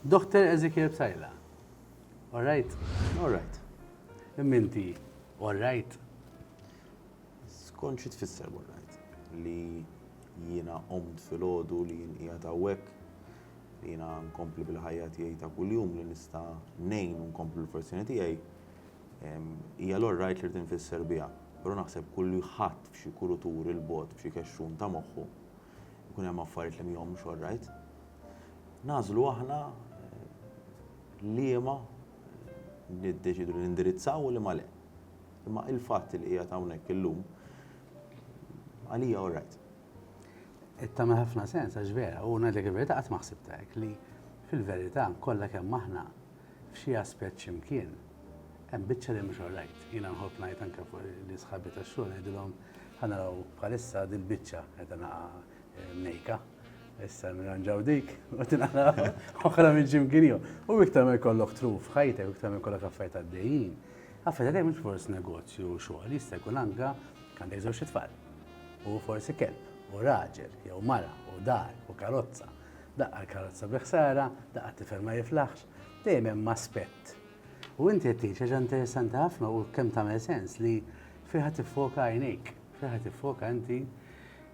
Doħter Ezekiel Psaila. All right? All right. Imma inti all right? Skont xi tfisser all right? Li jiena qomt filgħodu li jien qiegħed hawnhekk li jiena nkompli bil-ħajja tiegħi ta' kuljum li nista' ngħin u nkompli l-professjoni tiegħi hija l right li tinfisser biha. Però naħseb kull ħadd f'xi kulutur il-bot f'xi kexxun ta' moħħu jkun hemm affarijiet li mhomx all right. nagħżlu aħna liema niddeċiedu li nindirizzaw u liema le. Imma il-fatt li qiegħed hawnhekk illum għalija all right. Tagħmel ħafna sens għax vera u ngħidlek il-verità qatt ma ħsibta hekk li fil-verità kollha kemm aħna f'xi aspett x'imkien hemm biċċa li mhux all right. Jiena nħobb ngħid anke fuq li sħabi tax-xogħol ngħidilhom ħanaraw bħalissa dil-biċċa qed naqa' mnejka. Issa nirranġaw dik, u tinqala oħra minn Jim Kinio. U iktar ma jkollok truf ħajtek, iktar ma jkollok affarijiet għaddejjin. Affarijiet għaddejjin mhux forsi negozju u xogħol, jista' jkun anka għandek żewġ tfal. U forsi kelb, u raġel, jew mara, u dar, u karozza. Daqqa l-karozza bi ħsara, daqqa t-tifel ma jiflaħx, dejjem hemm aspett. U inti qed tgħid ħaġa interessanti ħafna u kemm tagħmel sens li fiha tiffoka għajnejk. Fejn ħa tiffoka inti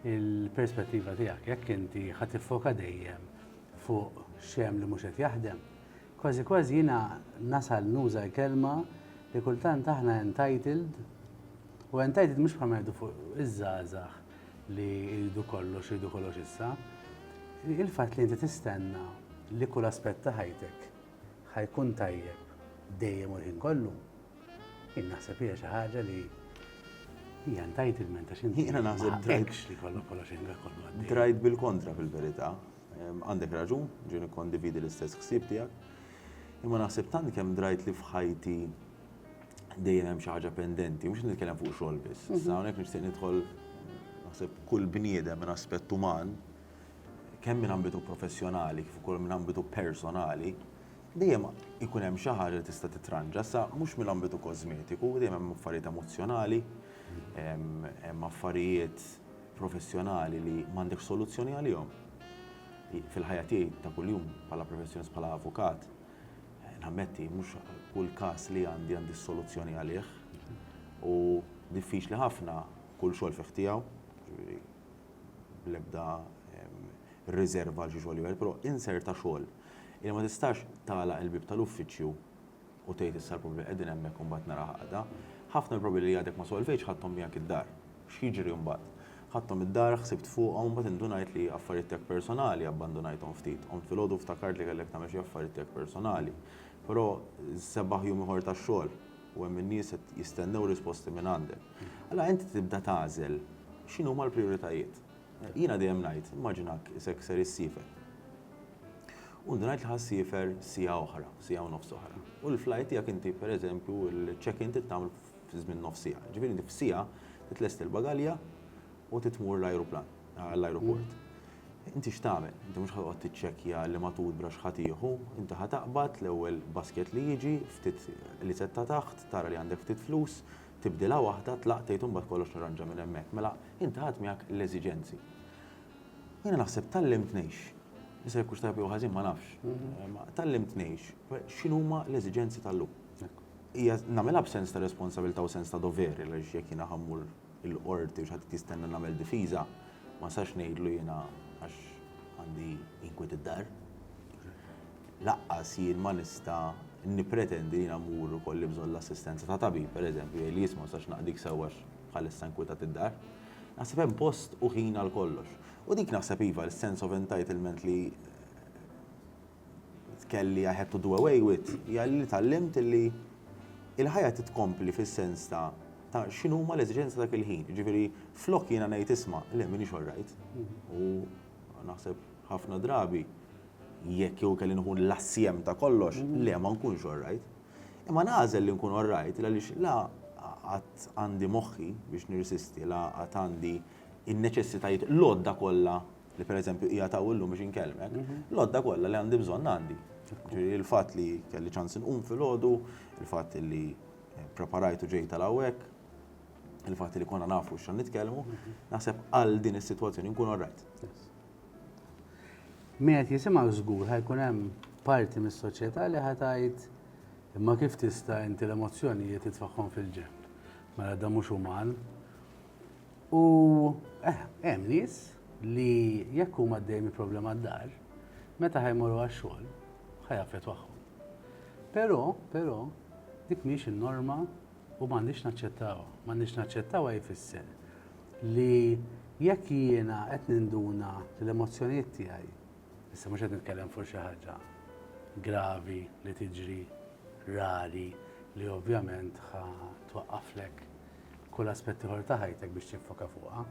il-perspettiva tiegħek, jekk inti ħa tiffoka dejjem fuq xem li mhux qed jaħdem. Kważi kważi jiena nasal nuża l-kelma li kultant aħna entitled u entitled mhux bħal ngħidu fuq iż-żgħażagħ li jridu kollox, jridu kollox issa. Il-fatt li inti tistenna li kull aspett ta' ħajtek ħa jkun tajjeb dejjem u l-ħin kollu, jien naħseb hija xi ħaġa li hija entitlement għax inti. Jiena naħseb drajt li kollok kollox ħinga kollu għaddej. Drajt bil-kontra fil-verità. Għandek raġun, ġieni kondividi l-istess ħsieb tiegħek. Imma naħseb tant kemm drajt li f'ħajti dejjem hemm xi ħaġa pendenti, mhux nitkellem fuq xogħol biss. Mhm. Sa hawnhekk nixtieq nidħol naħseb kull bniedem minn aspett uman kemm minn ambitu professjonali kif ukoll minn ambitu personali, dejjem ikun hemm xi ħaġa li tista' titranġa, sa mhux mill-ambitu kożmetiku, dejjem hemm affarijiet emozzjonali, hemm affarijiet professjonali li m'għandekx soluzzjoni għalihom. Fil-ħajja tiegħi ta' kuljum bħala professjonist bħala avukat, nammetti mhux kull każ li għandi għandi s-soluzzjoni għalih u diffiċli ħafna kull xogħol fih tiegħu, jiġifieri bl-ebda riżerva għal xi xogħol ieħor, però insert ta' xogħol illi ma tistax tagħlaq il-bieb tal-uffiċċju u tgħid issa l-problemi qegħdin hemmhekk u mbagħad naraha għada. Ħafna mill-problemi li għadek ma solvejtx ħadthom miegħek id-dar. X'jiġri mbagħad? Ħadthom id-dar, ħsibt fuqhom u mbagħad indunajt li affarijiet tiegħek personali abbandunajthom ftit. Qomt filgħodu u ftakart li kellek tagħmel xi affarijiet tiegħek personali. Però sebaħ jum ieħor tax-xogħol. u hemm in-nies qed jistennew risposti minn għandek. Allura inti tibda tagħżel x'inhuma l-prijoritajiet. Jiena dejjem ngħid, immaġinak isek ser issiefer. U inti ngħid li ħa ssiefer siegħa oħra, siegħa u nofs oħra. U l-flight tiegħek inti pereżempju l-check-in trid tagħmel fi żmien nofs siegħa. Ġifieri inti f'siegħa titlesti l-bagalja u trid tmur l-ajruplan, l-ajruport. Inti x'tagħmel? Inti mhux ħa toqgħod tiċċekkja liema toothbrush ħa tieħu. Inti ħa taqbad l-ewwel basket li jiġi, ftit liset ta' taħt, tara li għandek ftit flus, tibdilha waħda, tlaqt tgħid u mbagħad kollox nirranġa minn hemmhekk. Mela, inti ħadt miegħek l-eżiġenzi. U jiena naħseb tgħallimt ngħix. Issa jekk hux tajjeb jew ħażin ma nafx. Imma tgħallimt ngħix. X'inhuma l-eżiġenzi tal-lum? Hija nagħmilha b'sens ta' responsabilità u sens ta' dover għaliex jekk jiena ħa mmur il-Qorti u x'qed jistenna nagħmel difiża, ma nistax ngħidlu jiena għax għandi inkwiet id-dar. Lanqas jien ma nista' nippretendi li jiena mmur u jkolli bżonn l-assistenza ta' tabib, pereżempju, jgħidli jisma' ma nistax naqdik sew għax bħalissa inkwitat id-dar. Naħseb hemm post u ħin għal kollox. U dik naħseb iva, is-sense of entitlement li tkelli I had to do away with hija li tgħallimt li l-ħajja trid tkompli fis-sens ta' ta' x'inhuma l-eżiġenzi ta' dak il-ħin. Jiġifieri flok jiena ngħid isma' le m'iniex all right u naħseb ħafna drabi jekk jew kelli nieħu l-assjem ta' kollox, le ma nkunx all right. Imma nagħżel li nkun all right għaliex la qatt għandi moħħi biex nirsisti la qatt għandi n-neċessitajiet l-għodda kollha li pereżempju qiegħed hawn illum biex inkellmek, l-għodda kollha li għandi bżonn għandi. Ġifieri l-fatt li kelli ċans inqum filgħodu, il-fatt li eh, preparajt u ġejt tal hawnhekk, il-fatt li konna nafu x'għan nitkellmu, naħseb għal din is-sitwazzjoni nkun orrajt. Min qed jisimgħu żgur ħajkun hemm parti mis-soċjetà li ħatajt imma kif tista' inti l-emozzjonijiet titfagħhom fil-ġenb. Mela da mhux uman, U eh, hemm nies li jekk huma għaddejjin minn problema d-dar, meta ħajmorru għax-xogħol, ħajaffetwahom. Però, però, dik mhix in-norma u m'għandix naċċettawha. M'għandix naċċettawha jfisser li jekk jiena qed ninduna l-emozzjonijiet tiegħi, issa mhux qed nitkellem fuq xi ħaġa gravi li tiġri rari li ovvjament ħa twaqqaflek kull aspett ieħor ta' ħajtek biex tiffoka fuqha,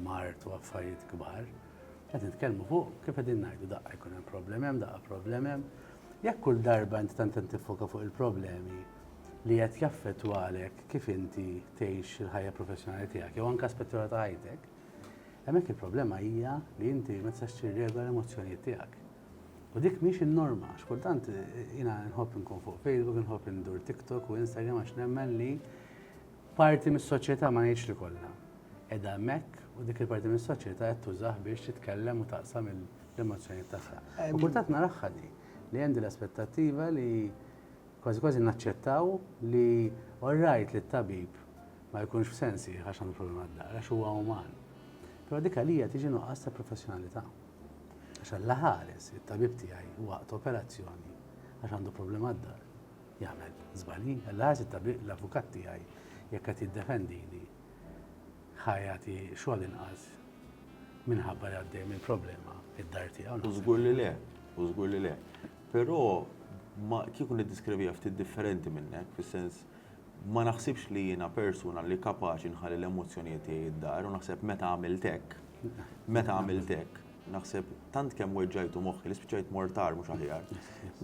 mard u affarijiet kbar. Qed nitkellmu fuq, kif qegħdin ngħidu, daqqa jkun hemm problemi hemm, daqqa problemi hemm. Jekk kull darba inti tant qed tiffoka fuq il-problemi li qed jaffettwalek kif inti tgħix il-ħajja professjonali tiegħek jew anke aspett ieħor ta' ħajtek, hemmhekk il-problema hija li inti ma tistax tirregola l-emozzjonijiet tiegħek. U dik mhix in-norma, għax kultant jiena nħobb inkun fuq Facebook, nħobb indur TikTok u Instagram għax nemmen li parti mis-soċjetà ma ngħidx li kollha. Edha hemmhekk u dik il-parti mis-soċjetà qed tużah biex titkellem u taqsam l-emozzjonijiet tagħha. U kultant naraħħa di li hemm din l-aspettattiva li kważi kważi naċċettaw li orrajt li t-tabib ma jkunx f'sensi għax għandu problema d-dar, għax huwa uman. Però dik għalija tiġi nuqqas ta' professjonalità. Għax Alla ħares, it-tabib tiegħi u waqt operazzjoni għax għandu problema d-dar. Jagħmel żbalji, Alla ħares it-tabib l-avukat tiegħi jekk qed jiddefendini ħa jagħti xogħol inqas minħabba li għaddej minn problema id-dar tiegħu. U żgur li le, u żgur li le. Però ma kieku niddiskrivija ftit differenti minnek, fis-sens Ma naħsibx li jiena persuna li kapaċi nħalli l-emozzjonijiet tiegħi d-dar u naħseb meta għamilt hekk, meta għamilt hekk, naħseb tant kemm weġġajtu moħħi li spiċċajt mortar mhux aħjar.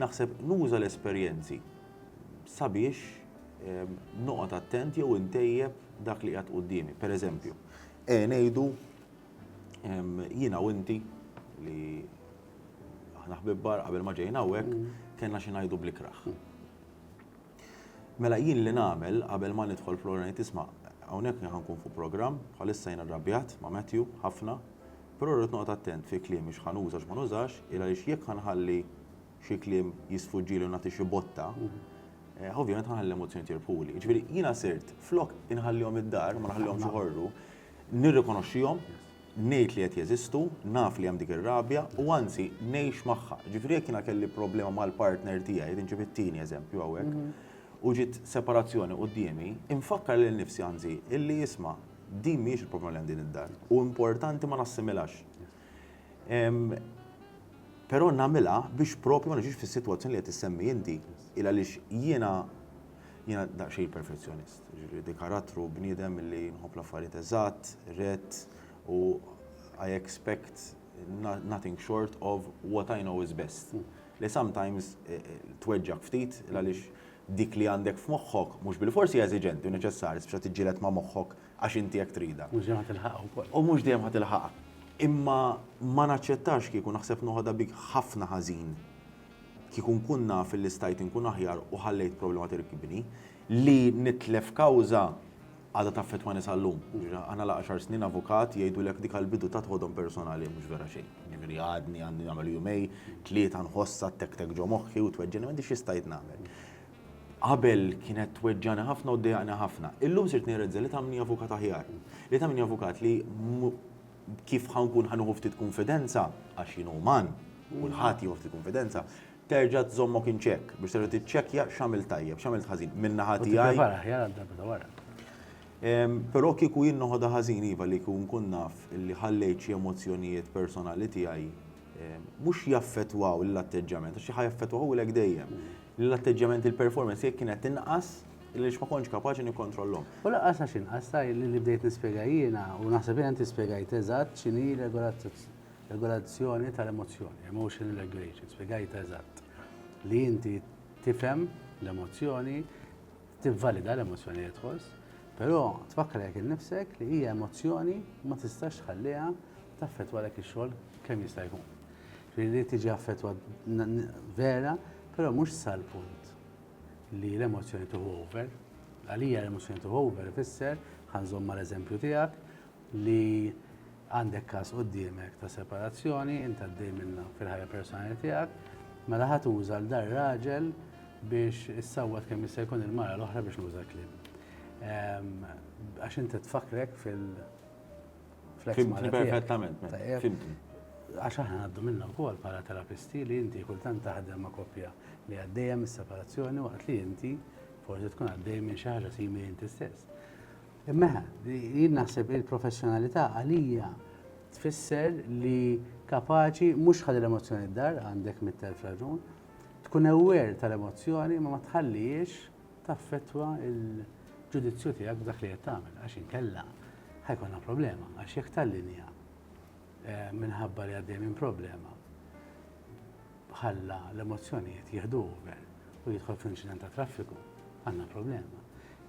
Naħseb nuża l-esperjenzi sabiex ehm, noqgħod attent jew intejjeb dak li qiegħed quddiemi. Per eżempju, e ngħidu ehm, jiena u inti li aħna ħbibbar qabel ma ġejna hawnhekk mm. kellna xi ngħidu bl-ikraħ. Mela jien li nagħmel qabel ma nidħol fl-għola ngħid isma' hawnhekk jien ħa nkun fuq programm, bħalissa jien arrabjat ma' Matthew ħafna, però rrid noqgħod attent fi kliemi x'ħa nuża u x'ma nużax, il għaliex jekk ħa nħalli xi kliem jisfuġġili u nagħti xi botta, ovvjament ħa nħalli l-emozzjonijiet jirbħuli. Jiġifieri jiena sirt flok inħallihom id-dar, ma nħallihomx iħorru, nirrikonoxxihom, ngħid li qed jeżistu, naf li hemm dik ir-rabja u anzi ngħix magħha. Ġifieri jekk jiena kelli problema mal-partner tiegħi, qed inġib it-tieni eżempju hawnhekk, u ġiet separazzjoni quddiemi, infakkar lil nifsi anzi illi isma' din mhijiex il-problema li għandi d-dar u importanti ma nassimilax. Però nagħmilha biex propju ma niġix fis-sitwazzjoni li qed issemmi inti. Il-għaliex jiena jiena daqsxejn perfezzjonist. Jiġifieri dik karattru, bniedem li nħobb l-affarijiet eżatt, rett u I expect nothing short of what I know is best. Li sometimes tweġġgħek ftit għaliex dik li għandek f'moħħok mhux bilfors hija eżiġenti u neċessarja spiss tiġġieled ma' moħħok għax inti hekk tridha. Mhux dejjem ħa tilħaqha wkoll. U mhux dejjem ħa tilħaqha. Imma ma naċċettax kieku naħseb noħodha bik ħafna ħażin kieku nkun naf li stajt inkun aħjar u ħallejt problema tirkibni. Li nitlef kawża għadha taffettwani sal-lum. Jiġifieri aħna la għaxar snin avukat jgħidulek dik għall-bidu tat ħodhom personali mhux vera xejn. Jiġifieri għadni għandi nagħmel jumej, tlieta nħossha ttektek ġo moħħi u tweġġagħni m'għandix xi stajt nagħmel. Qabel kienet tweġġagħni ħafna u ddejjaqni ħafna. Illum sirt nirrealizza li tagħmilni avukat aħjar. Li tagħmilni avukat li kif ħa nkun ħa nieħu ftit kunfidenza, għax jien uman, kulħadd jieħu ftit kunfidenza, terġa' tżommok in check biex terġa' tiċċekkja x'għamilt tajjeb, x'għamilt ħażin. Minn naħa tiegħi. Tipprepara aħjar għal darba ta' wara. Però kieku jien noħodha ħażin iva li kieku nkun naf li ħallejt xi emozzjonijiet personali tiegħi mhux jaffettwaw l-atteġġjament, għax ħa jaffettwaw u lek dejjem. L-atteġġjament il-performance jekk kienet inqas, li ma kontx kapaċi nikkontrollhom. U laqas għax inqas li bdejt nispjega jiena u naħseb jiena inti spjegajt eżatt x'inhi Regolazzjoni tal-emozzjoni, emotional regulation, spjegajtha eżatt. Li inti tifhem l-emozzjoni, tivvalida l-emozzjoni li tħoss, però tfakkar jekk innifsek li hija emozzjoni ma tistax tħalliha taffettwa lek ix-xogħol kemm jista' jkun. Li tiġi affettwa vera, però mhux sal-punt li l-emozzjoni tuħu over. Għalija l-emozzjoni tuħu over ifisser ħanżomm mal-eżempju tiegħek, li għandek każ quddiemek ta' separazzjoni, int għaddej minnha fil-ħajja personali tiegħek, mela ħa tuża l dar raġel biex issawwat kemm jista' jkun il-mara l-oħra biex nuża l-klim. Ehm, għax inti tfakrek fil- Fimtni perfettament, mela. fimtni. Għax aħna għaddu minna wkoll bħala terapisti li inti kultant taħdem ma' koppja li għaddejja mis-separazzjoni waqt li inti forsi tkun għaddej minn xi ħaġa simili inti stess. Immeħa, jien naħseb il-professjonalità għalija tfisser li kapaċi mhux ħalli l-emozzjoni d-dar għandek mit-telf raġun, tkun aware tal-emozzjoni ma ma tħallihiex taffettwa l-ġudizzju tiegħek b'dak li qed tagħmel għax inkella ħajkolna problema għax jekk tal-linja eh, minħabba li għaddej minn problema ħalla l-emozzjonijiet jieħdu over u jidħol f'inċident ta' traffiku, għandna problema.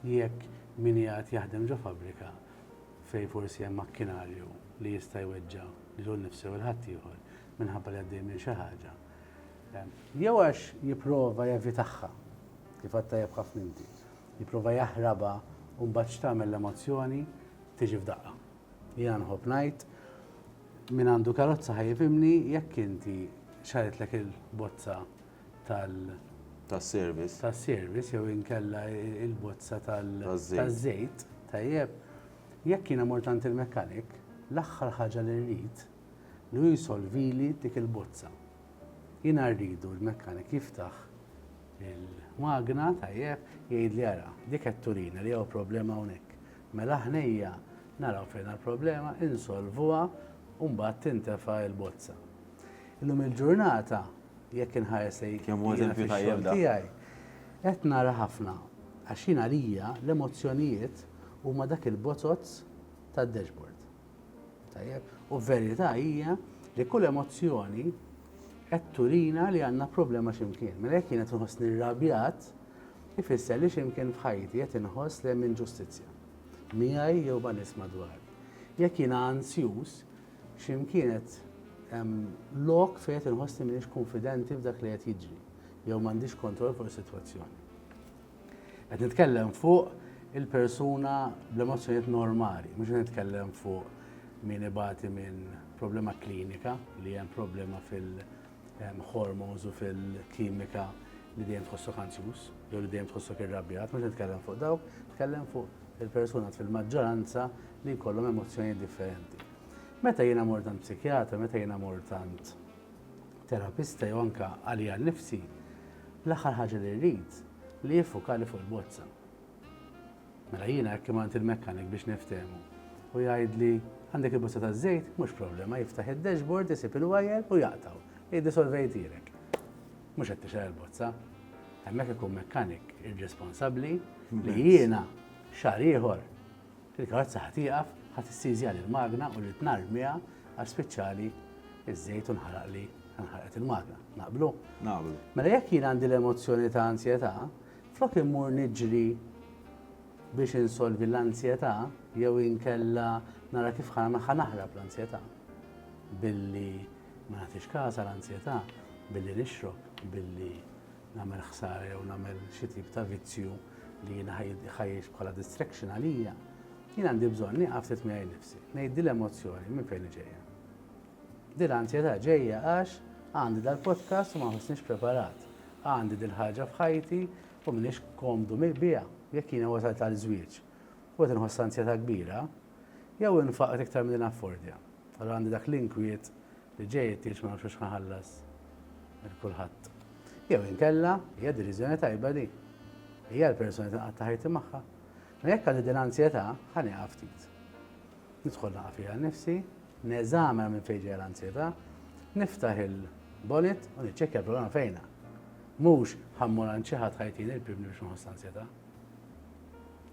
Jekk min qiegħed jaħdem ġo fabbrika fejn forsi hemm makkinarju li jista' jweġġa' lilu nnifsu jew 'l ħaddieħor minħabba li għaddej minn xi ħaġa, jew għax jipprova jevitagħha, kif għedt tajjeb ħafna inti, jipprova jaħrabha u mbagħad x'tagħmel l-emozzjoni tiġi f'daqqa. Jiena nħobb ngħid, Min għandu karozza ħa jifhimni jekk inti xarritlek il-bozza tal- Tas-service. Tas-service jew inkella il-bozza tal- Taż-żejt. Taż-żejt, tajjeb. Jekk jiena mort għand il-mechanic, l-aħħar ħaġa li rrid li hu jsolvili dik il-bozza. Jiena rridu l-mechanic jiftaħ il-magna, tajjeb, jgħidli ara, dik qed turina li hawn problema hawnhekk. Mela ħnejja naraw fejn ha l-problema, insolvuha u mbagħad tintefa' l-bozza. Illum il-ġurnata jekk inħares lejn Kemm hu eżempju tajjeb dan. tiegħi qed nara ħafna għax jien għalija l-emozzjonijiet huma dak il-bozoz tad-dashboard. Tajjeb? U verità hija li kull emozzjoni qed turina li għandna problema x'imkien. Mela jekk jien qed inħossni rrabjat, ifisser li xi mkien f'ħajti qed inħoss li hemm inġustizzja, miegħi jew ma' nies madwari. Jekk jiena ansjuż, xi mkien qed hemm lok fejn qed inħoss li m'iniex kunfidenti f'dak li qed jiġri, jew m'għandix kontroll fuq is-sitwazzjoni. Qed nitkellem fuq il-persuna bl-emozzjonijiet normali, mhux qed nitkellem fuq min ibati minn problema klinika li hemm problema fil- hormones u fil-kimika li dejjem tħossok ansjuż, jew li dejjem tħossok irrabjat, mhux nitkellem fuq dawk, nitkellem fuq il-persuna fil-maġġoranza li jkollhom emozzjoni differenti. Meta jiena mort għand psikjatra, meta jiena mort għand terapista jew anka għalija nifsi, l-aħħar ħaġa li rrid li jiffukali fuq il-bozza. Mela jiena hekk imant il-mechanic biex niftehmu. U jgħidli, għandek il-bozza taż-żejt? Mhux problema, jiftaħ id-dashboard, isib il-wire u jaqtgħu. Jgħidli solvejtilek. Mhux qed tixgħel il-bozza. Hemmhekk ikun mechanic irresponsabbli li jiena xahar ieħor il-karozza ħadd ieqaf ħadd issizja l-magna u li tnar miha għax spiċċali iż-żejt u nħaraqli nħarqet il-magna. Naqblu? Naqblu. Mela jekk jien għandi l-emozzjoni ta' ansjetà, Flok immur niġri biex insolvi l-anzjetà jew inkella nara kif ħa naħrab l-anzjetà billi ma nagħtix każ għal anzjetà, billi nixrob, billi nagħmel ħsara jew nagħmel xi tip ta' vizzju li jiena ħajjiex bħala distraction għalija, jien għandi bżonn nieqaf ftit miegħi nnifsi, ngħid din l-emozzjoni minn fejn ġejja. Din l-anzjetà ġejja għax għandi dal-podcast u ma ħossniex preparat. Għandi dil-ħaġa f'ħajti u m'iniex komdu biha. Jekk jiena wasalt għal żwieġ u qed inħoss anzjetà kbira, jew infaqr iktar milli naffordja. Allura għandi dak l-inkwiet li ġej it-tieġ ma nafx hux ħa nħallas lil kulħadd. Jew inkella, hija deriżjoni tajba di. Hija l-persuna li tinqatta' ħajti magħha. Mela jekk għandi din l-anzjetà, ħa nieqaf ftit. Nidħol naqa' fiha nnifsi, neżamina minn fejn ġejja l-anzjetà, niftaħ il-bonnet u niċċekkja l-problema fejnha. Mhux ħa mmur għand xi ħadd ħa jtini l-pilbni biex ma nħoss l-anzjetà.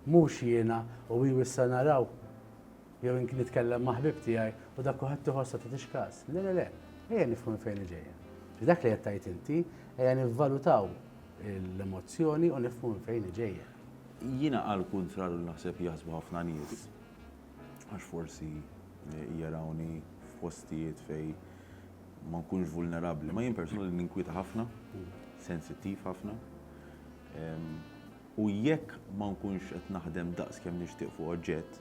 Mhux jiena u hi wissa naraw jew ink nitkellem ma' ħbieb tiegħi u dak kulħadd iħoss ma tagħtix każ. Le le le, ejja nifhmu minn fejn hi ġejja. F'dak li qed tgħid inti, ejja nivvalutaw l-emozzjoni u nifhmu minn fejn hi ġejja. Jiena għall-kuntrarju naħseb jaħsbu ħafna nies Għax forsi jarawni f'postijiet fejn ma nkunx vulnerabbli. Ma jien persuna li ninkwieta ħafna, sensittiv ħafna. U jekk ma nkunx qed naħdem daqs kemm nixtieq fuq oġġett,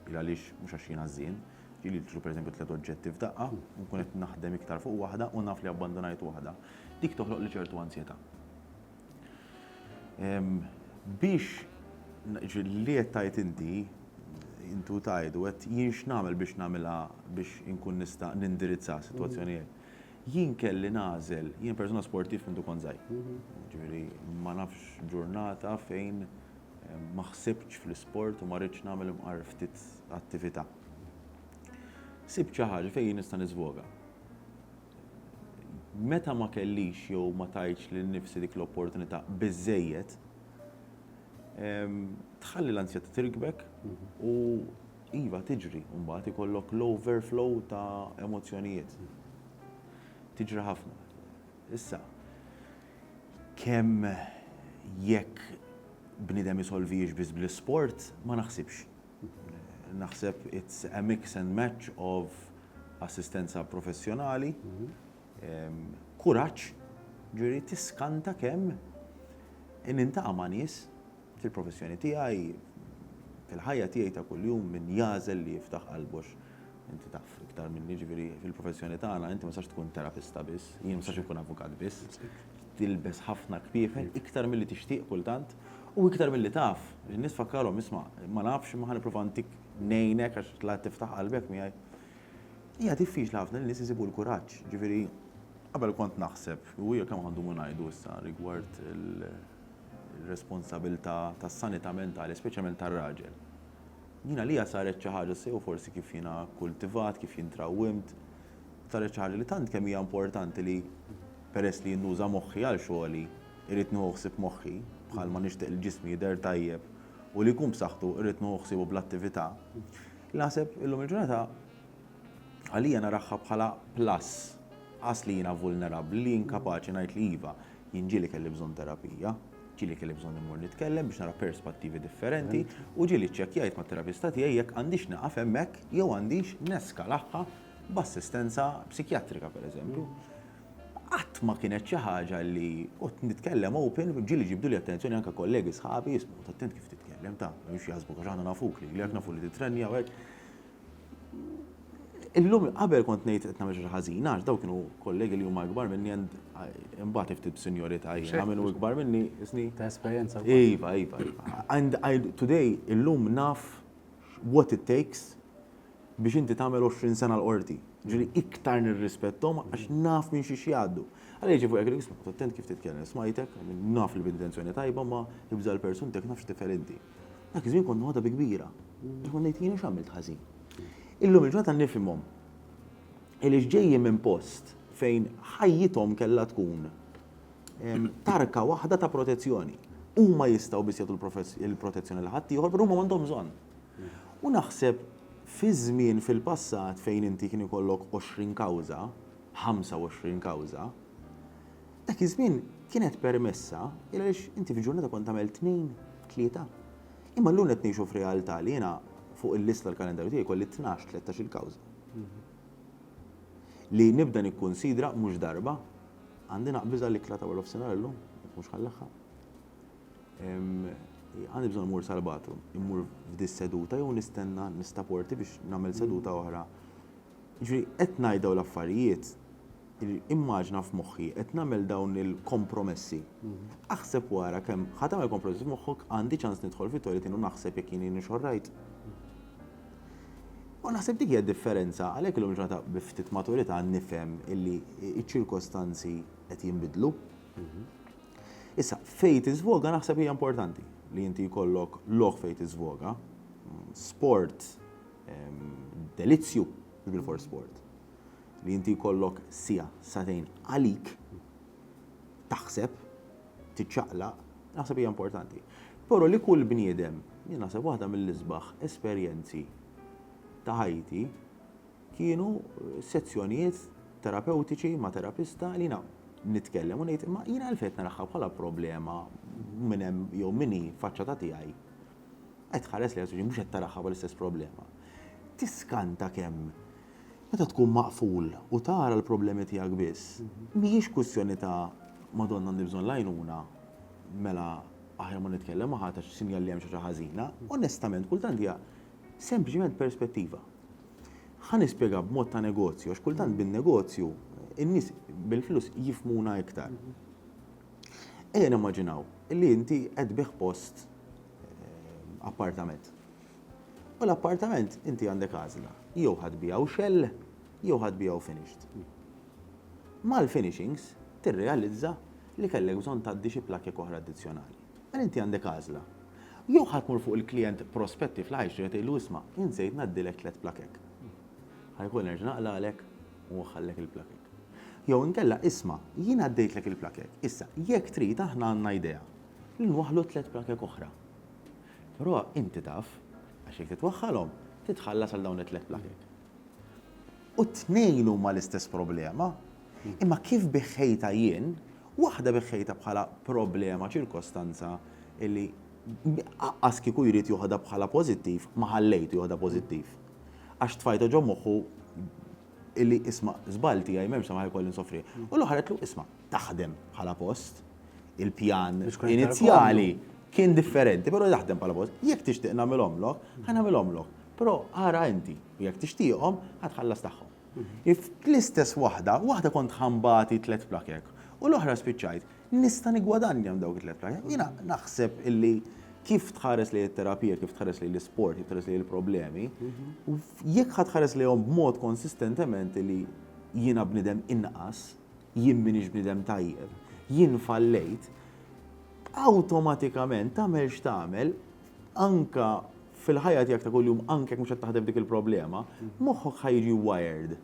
il għaliex mhux għax jien għażżien, ġieli nixtru pereżempju tliet oġġetti f'daqqa, nkun qed naħdem iktar fuq waħda u naf li abbandunajt waħda. Dik toħloqli ċertu anzjetà. Biex li qed tgħid inti, inti u tgħid u qed jien x'nagħmel biex nagħmilha biex inkun nista' nindirizza sitwazzjonijiet. Jien kelli nagħżel, jien persuna sportiv minn dukont żgħir. Jiġifieri ma nafx ġurnata fejn ma ħsibtx fl-isport u ma ridtx nagħmel imqar ftit attività. Sibt xi ħaġa fejn jien nista' niżvoga. meta ma kellix jew ma tajtx lil nifsi dik l-opportunità biżżejjed, tħalli l-ansjetà tirkbek u iva tiġri u mbagħad ikollok l-overflow ta' emozzjonijiet. Tiġri ħafna. Issa, kemm jekk bniedem isolvihiex biss bl-isport, ma naħsibx. Naħseb it's a mix and match of assistenza professjonali, kuraġġ, ġifieri tiskanta kemm nintaqa' ma' nies fil-professjoni tiegħi, fil-ħajja tiegħi ta' kuljum min jagħżel li jiftaħ qalbu għax inti taf iktar minni ġifieri fil-professjoni tagħna inti ma tistax tkun terapista biss, jien ma nistax inkun avukat biss, tilbes ħafna kpiefen iktar milli tixtieq kultant u iktar milli taf. In-nies tfakkarhom, isma', ma nafx imma ħa nipprova ntik ngħinek għax la tiftaħ qalbek miegħi. Hija diffiċli ħafna li nies isibu l-kuraġġ, ġifieri qabel kont naħseb u hija kemm ħandumu ngħidu issa rigward il-responsabilità tas-sanità mentali, speċjalment tar-raġel. Jien għalija saret xi ħaġa sew forsi kif jiena kkultivat, kif jien trawwimt, Saret xi ħaġa li tant kemm hija importanti li peress li jien nuża moħħi għal xogħli, irrid nieħu ħsieb moħħi, bħalma nixtieq li ġismi jidher tajjeb u li jkun b'saħħtu irrid nieħu ħsiebu bl-attività, li naħseb illum il-ġurnata għalija narahha bħala plus, qas li jiena vulnerabbli, li jien kapaċi ngħid li iva, jien ġieli kelli bżonn terapija, ġieli kelli bżonn immur nitkellem biex nara perspattivi differenti u ġieli ċċekkjajt mat-terapista tiegħi jekk għandix nieqaf hemmhekk jew għandix neskalahha b'assistenza psikjatrika pereżempju, qatt ma kienet xi ħaġa li kont nitkellem open, ġieli ġibdu li attenzjoni anke kollegi sħabi jismu, attent kif titkellem ta' mhux jaħsbu għax aħna nafuk li jekk nafu li titrenja u hekk. Illum qabel kont ngħid qed nagħmel xi ħażin għax dawk kienu kollegi li huma ikbar minni għand imbagħad ftit b'sinjorità jiena minn hu ikbar minni isni. Ta' esperjenza. Iva, iva, iva. And today illum naf what it takes biex inti tagħmel għoxrin sena l-Qorti. Jiġifieri iktar nirrispetthom għax naf minn xiex jgħaddu. Alla jiġibu hekk irid noqgħod attent kif titkellem. Smajtek, naf li b'intenzjoni tajba imma ibża' l-persuntek naf x'tifgħel inti. Dak iż-żmien kont noħodha bi kbira. Għax kont ngħid jiena x'għamilt ħażin. Illum il-ġurnata nifhimhom. Għaliex ġejjin minn post fejn ħajjithom kellha tkun tarka waħda ta' protezzjoni. Huma jistgħu biss jagħtu l-protezzjoni lil ħaddieħor però huma m'għandhom bżonn. U naħseb fi żmien fil-passat fejn inti kien ikollok għoxrin kawża, ħamsa u għoxrin kawża, dak iż-żmien kienet permessa il għaliex inti f'ġurnata kont tagħmel tnejn, tlieta. Imma llum qed ngħixu f'realtà li jiena fuq il-lista l-kalendarju tiegħi jkolli tnax, tlettax il-kawża. Li nibda nikkunsidra mhux darba, għandi naqbiż għall-ikla ta' warofsinhar illum, jekk mhux ħal-aħħar. Għandi bżonn immur sal-bathroom, immur f'dis-seduta jew nistenna nista' porti biex nagħmel seduta oħra. Ġifieri qed ngħid dawn l-affarijiet, immaġina f'moħħi qed nagħmel dawn il-kompromessi. Aħseb wara kemm ħa tagħmel kompromessi f'moħħok, għandi ċans nidħol fit-toilet jien u naħseb jekk jien hienix all right. U naħseb dik hija d-differenza, għalhekk illum il-ġurnata bi ftit maturità nifhem illi ċ-ċirkostanzi qed jinbidlu. Issa, fejn tiżvoga naħseb hija importanti li inti jkollok lok fejn tiżvoga, sport, delizzju, bil for sport. Li inti jkollok sija, satejn għalik, taħseb, tiċċaqla, naħseb hija importanti. Però li kull bniedem, jien naħseb waħda mill-isbaħ esperjenzi ta' ħajti kienu sezzjonijiet terapewtiċi ma' terapista li na nitkellem u ngħid imma jiena għalfejn naraħħa bħala problema minn hemm jew minni faċċa ta' tiegħi. Qed ħares li mhux qed taraħħa bħal istess problema. Tiskanta kemm meta tkun maqful u tara l-problemi tiegħek biss, mhijiex kwistjoni ta' Madonna għandi bżonn l-għajnuna, mela aħjar ma nitkellem ma ħadd għax sinjal li hemm xi ħaġa ħażina. Onestament, kultant hija sempliċement perspettiva. Ħa nispjega b'mod ta' negozju, għax kultant bin-negozju in-nies bil-flus jifmuna iktar. Ejja nimmaġinaw li inti qed bih post eh, appartament. U l-appartament inti għandek għażla, jew ħadd bijaw xell, jew ħadd bijaw finished. Mal-finishings tirrealizza li kellek bżonn tgħaddi xi plakek oħra addizzjonali. Mela inti għandek għażla. Jew ħa tmur fuq il-klijent prospettiv li ħa jixtri ħa tgħidlu isma' jien żejt ngħaddilek tliet plakek. Ħa jkun nerġa' naqlagħlek u nħallek il-plakek. Jew inkella isma' jien għaddejtlek il-plakek, issa jekk trid aħna għandna idea li nwaħħlu tliet plakek oħra. Però inti taf, għax jekk titwaħħalhom, titħallas għal dawn it-tliet plakek. U t-tnejn huma l-istess problema. Imma kif biħħejtha jien, waħda biħħejtha bħala problema, ċirkostanza li aqqas kieku jrid joħodha bħala pożittiv, ma ħallejtu joħodha pożittiv. Għax tfajta ġo moħħu illi isma' żball tiegħi m'hemmx samaħ ikolli nsofri. U l-oħra qed isma' taħdem bħala post, il-pjan inizjali kien differenti, però taħdem bħala post. Jekk tixtieq nagħmilhom lok, ħa nagħmilhom lok. Però ara inti, jekk tixtieqhom, ħa tħallas tagħhom. Fl-istess waħda, waħda kont ħa nbati tliet plakek u l-oħra spiċċajt nista' niggwadanja minn dawk it-tliet plakek. Jiena naħseb illi kif tħares lejn it-terapija, kif tħares lejn l-isport, kif tħares lejn il-problemi, jekk ħa tħares lejhom b'mod konsistentement li jiena bniedem inqas, jien m'iniex bniedem tajjeb, jien fallejt, awtomatikament tagħmel x'tagħmel, anke fil-ħajja tiegħek ta' kuljum anke jekk mhux qed taħdem dik il-problema, moħħok ħa jiġi wired.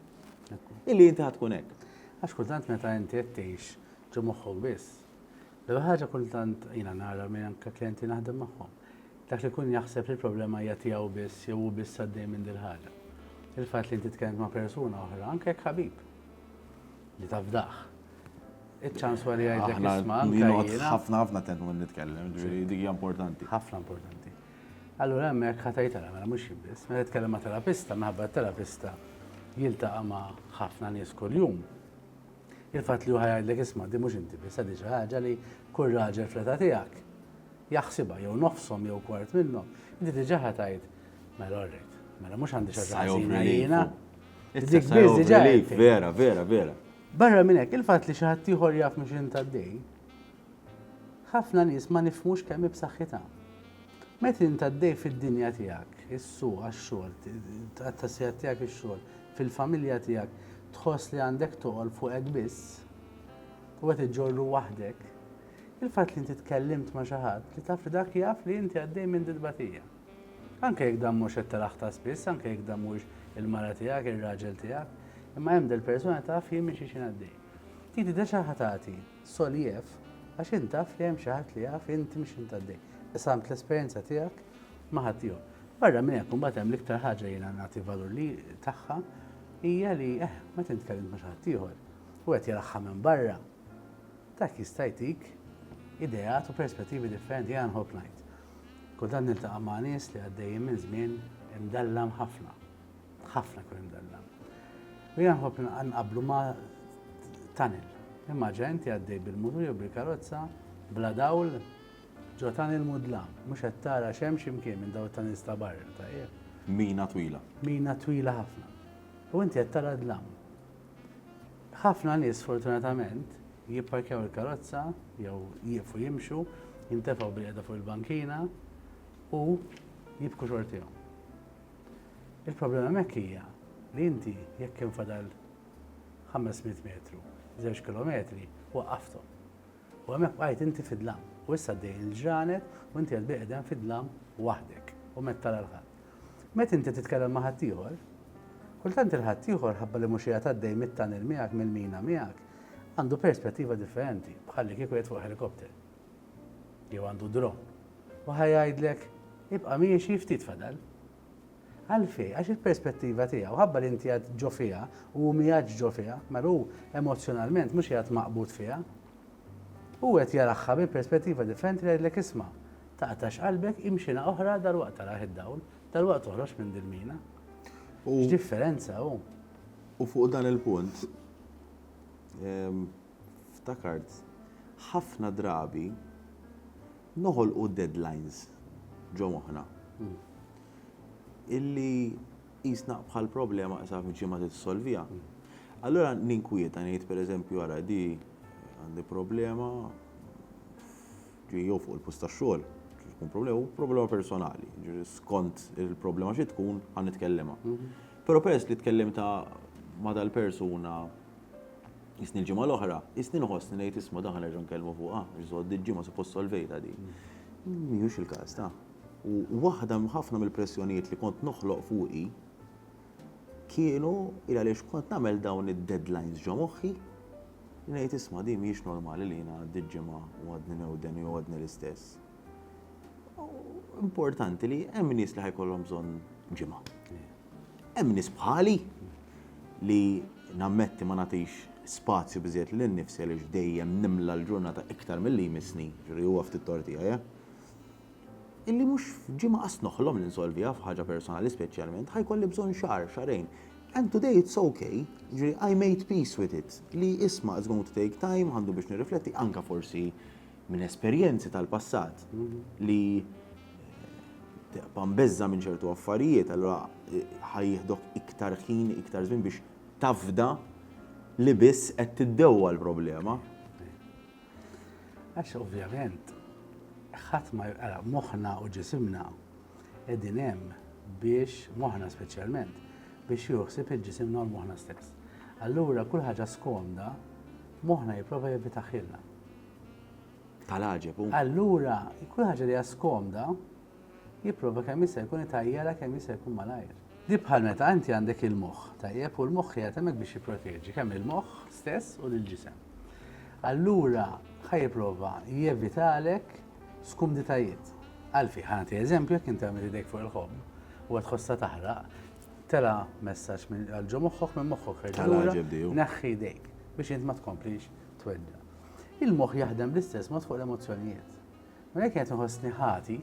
Illi inti ħad tkun hekk. Għax kultant meta inti qed tgħix ġo moħħok biss. L-ewwel ħaġa kultant jiena nara minn anke klijenti naħdem magħhom. Dak li jkun jaħseb li l-problema hija tiegħu biss jew hu biss għaddej minn dil-ħaġa. Il-fatt li inti tkellem ma' persuna oħra anke jekk ħabib li tafdaħ Iċ-ċans wara jgħidlek isma' anke jiena. Ħafna ħafna attent minn nitkellem, ġifieri dik hija importanti. Ħafna importanti. Allura hemmhekk ħa tgħid ara mela mhux jien biss, meta titkellem ma' terapista minħabba t-terapista jiltaqa' ma' ħafna nies kuljum. Il-fatt li hu ħa jgħidlek isma' din mhux inti biss, din xi ħaġa li kull raġel fl-età tiegħek jaħsibha jew nofshom jew kwart minnhom, inti diġà ħa tgħid mela orrejt, mela mhux għandi xi ħaġa ħażina jiena. Dik biss diġà. Vera, vera, vera. Barra minn hekk, il-fatt li xi ħaddieħor jaf minn x'int għaddej, ħafna nies ma nifhmux kemm hi b'saħħitha. Meta int għaddej fid-dinja tiegħek, is-suq għax-xogħol, tqatta' sigħat tiegħek ix-xogħol, fil-familja tiegħek, tħoss li għandek toqol fuqek biss u qed iġġorru waħdek, il-fatt li inti tkellimt ma' xi ħadd li taf li dak jaf li inti għaddej minn din tbatija. Anke jekk dan mhux qed taraħ ta' spiss, anke jekk dan mhuwiex il-mara tiegħek, ir-raġel tiegħek, imma hemm dil-persuna taf jien minn xi xi ngħaddej. Titi deġa ħa tagħti soljef għax int taf li hemm xi ħadd li jaf int minn x'int għaddej. Qsamt l-esperjenza tiegħek ma' ħaddieħor. Barra minn hekk imbagħad hemm l-iktar ħaġa jiena nagħti valur li tagħha hija li eh, meta int tkellimt ma' xi ħadd ieħor u qed jaraħħa minn barra, dak jista' jtik ideat u perspettivi differenti jiena nħobb ngħid. Kultant niltaqa' ma' nies li għaddejjin minn żmien imdallam ħafna. Ħafna jkun imdallam. U jiena nħobb nqabblu ma' tunnel. Immaġina inti għaddej bil-mutur jew bil-karozza bla dawl ġo tunnel mudlam, mhux qed tara x'hemm xi mkien minn dawn it-tunnels ta' barra ta' qiegħ. Mina twila. Mina twila ħafna. U inti qed tara d-dlam. Ħafna nies sfortunatament Jipparkjaw il-karozza jew jieqfu jimxu, jintefgħu bilqiegħda fuq il-bankina u jibku xortihom. Il-problema hemmhekk hija li inti jekk kien fadal 500 metru, żewġ kilometri, waqqafthom. U hemmhekk bqajt inti fid-dlam. U issa għaddej il-ġranet u inti qed bilqiegħda fid-dlam waħdek u met tara l-ħadd. Meta inti titkellem ma' ħaddieħor, kultant il-ħaddieħor ħabba li mhux qiegħed għaddej mit-tunnel miegħek, mill-mina miegħek, Għandu perspettiva differenti, bħallikieku qiegħed fuq ħelikopter. Jew għandu dron. U ħa jgħidlek, ibqa' miexi ftit fadal. Għalfej, għax il-perspettiva tiegħu, ħabba li inti għad ġo fiha u hu miegħek ġo fiha, mela hu emozzjonalment mhux qiegħed maqbud fiha. U qed jaraħħa bi perspettiva differenti li għidlek isma' taqtax qalbek imxina oħra dal-waqt taraħ id-dawl, dal-waqt toħroġ minn dil-mina. U differenza hu. U fuq dan il-punt, ftakart, ħafna drabi noħolqu deadlines ġo moħħna. Illi qisna bħal problema qisha f'ġimgħa trid issolviha. Allura ninkwieta ngħid pereżempju ara di għandi problema jew fuq il-post tax-xogħol, tkun problema, u problema personali. Skont il-problema xi tkun ħan nitkellema. Però peress li tkellimta ma' dal-persuna jisni l-ġimgħa l-oħra, jisni nħossni ngħid isma' dan ħanerġa' nkellmu fuqha, biex żgħod diġġi ma suppost solvejta di. Mhijiex il-każ ta'. U waħda ħafna mill-pressjonijiet li kont noħloq fuqi kienu il għaliex kont nagħmel dawn id-deadlines ġo moħħi, ngħid isma' di mhijiex normali li jiena għaddiet ġimgħa u għadni newden jew għadni l-istess. Importanti li hemm nies li ħajkollhom bżonn ġimgħa. Hemm nies bħali li nammetti ma nagħtix spazju biżiet li nnifsi għaliex dejjem nimla l-ġurnata iktar milli jmissni, ġri huwa ftit tortija, ja? Illi mhux f'ġimgħa qas noħlom li nsolviha f'ħaġa personali speċjalment, ħajkolli bżonn xahar, xarejn. And today it's okay, ġri I made peace with it, li isma' it's going to take time, għandu biex nirrifletti, anka forsi minn esperjenzi tal-passat li teqpa' mbeżża minn ċertu affarijiet, allura eh, ħajjihdok iktar ħin, iktar żmien biex tafda li biss qed tiddewwa l-problema. Għax ovvjament, ħadd ma jqara moħħna u ġisimna qegħdin hemm biex moħħna speċjalment biex juħsib il-ġisimna u l-moħħna stess. Allura kull ħaġa skomda moħħna jipprova jevitaħilna. Tal-għaġeb hu. Allura, kull ħaġa li hija skomda, jipprova kemm jista' jkun itajjarha kemm jista' jkun malajr. Di bħal meta inti għandek il-moħħ, tajjeb, u l-moħħ qiegħed hemmhekk biex jipproteġi kemm il-moħħ stess u lill-ġisem. Allura, ħa jipprova jevitalek skumditajiet. Għalfi, ħa nagħti eżempju jekk inti għamil idejk fuq il-ħobb u qed tħossha taħraq, tela messaġġ għal ġo moħħok minn moħħok reġgħu. Tal-għaġeb di hu. Neħħi idejk biex int ma tkomplix Tweġġa'. Il-moħħ jaħdem bl-istess mod fuq l-emozzjonijiet. Mela jekk qed inħossni ħati,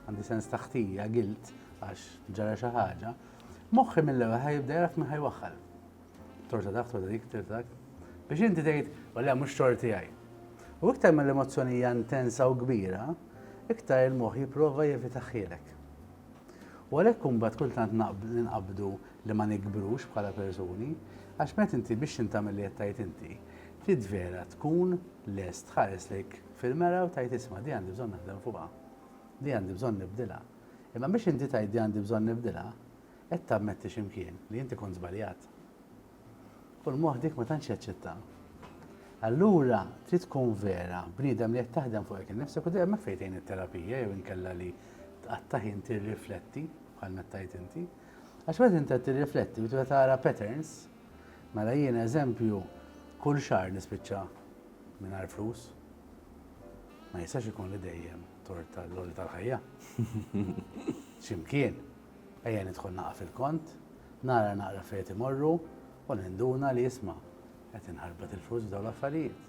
għandi sens ta' ħtija, guilt, għax ġara xi ħaġa, moħħi mill-ewwel ħajibda jgħaraf min ħajwaħħal. Torta dak, torta dik, torta dak. Biex inti tgħid, walla mhux torti għaj. U iktar ma l-emozzjoni hija intensa u kbira, iktar il-moħħ jipprova jevitaħħielek. U għalhekk imbagħad kultant naqbdu li ma nikbrux bħala persuni, għax meta inti biex int tagħmel li qed tgħid inti, trid vera tkun lest tħares lejk fil-mera u tgħid isma' di għandi bżonn naħdem fuqha, di għandi bżonn nibdilha. Imma biex inti tgħid di għandi bżonn nibdilha, qed tammetti xi mkien li inti kont żbaljat. U l-moħħ dik ma tantx jaċċetta. Allura trid tkun vera bniedem li qed taħdem fuq hekk innifsek u dejjem fejtejn it-terapija jew inkella li tqatta' ħin tirrifletti bħal mettajt inti. Għax meta inti qed tirrifletti u tibda tara patterns, mela jiena eżempju kull xahar nispiċċa mingħajr flus. Ma jistax ikun li dejjem tort tal-loli tal-ħajja. Ximkien, ejja nidħol naqa' fil-kont, nara naqra fejn imorru u ninduna li jisma' qed inħarbat il-flus f'dawn l-affarijiet.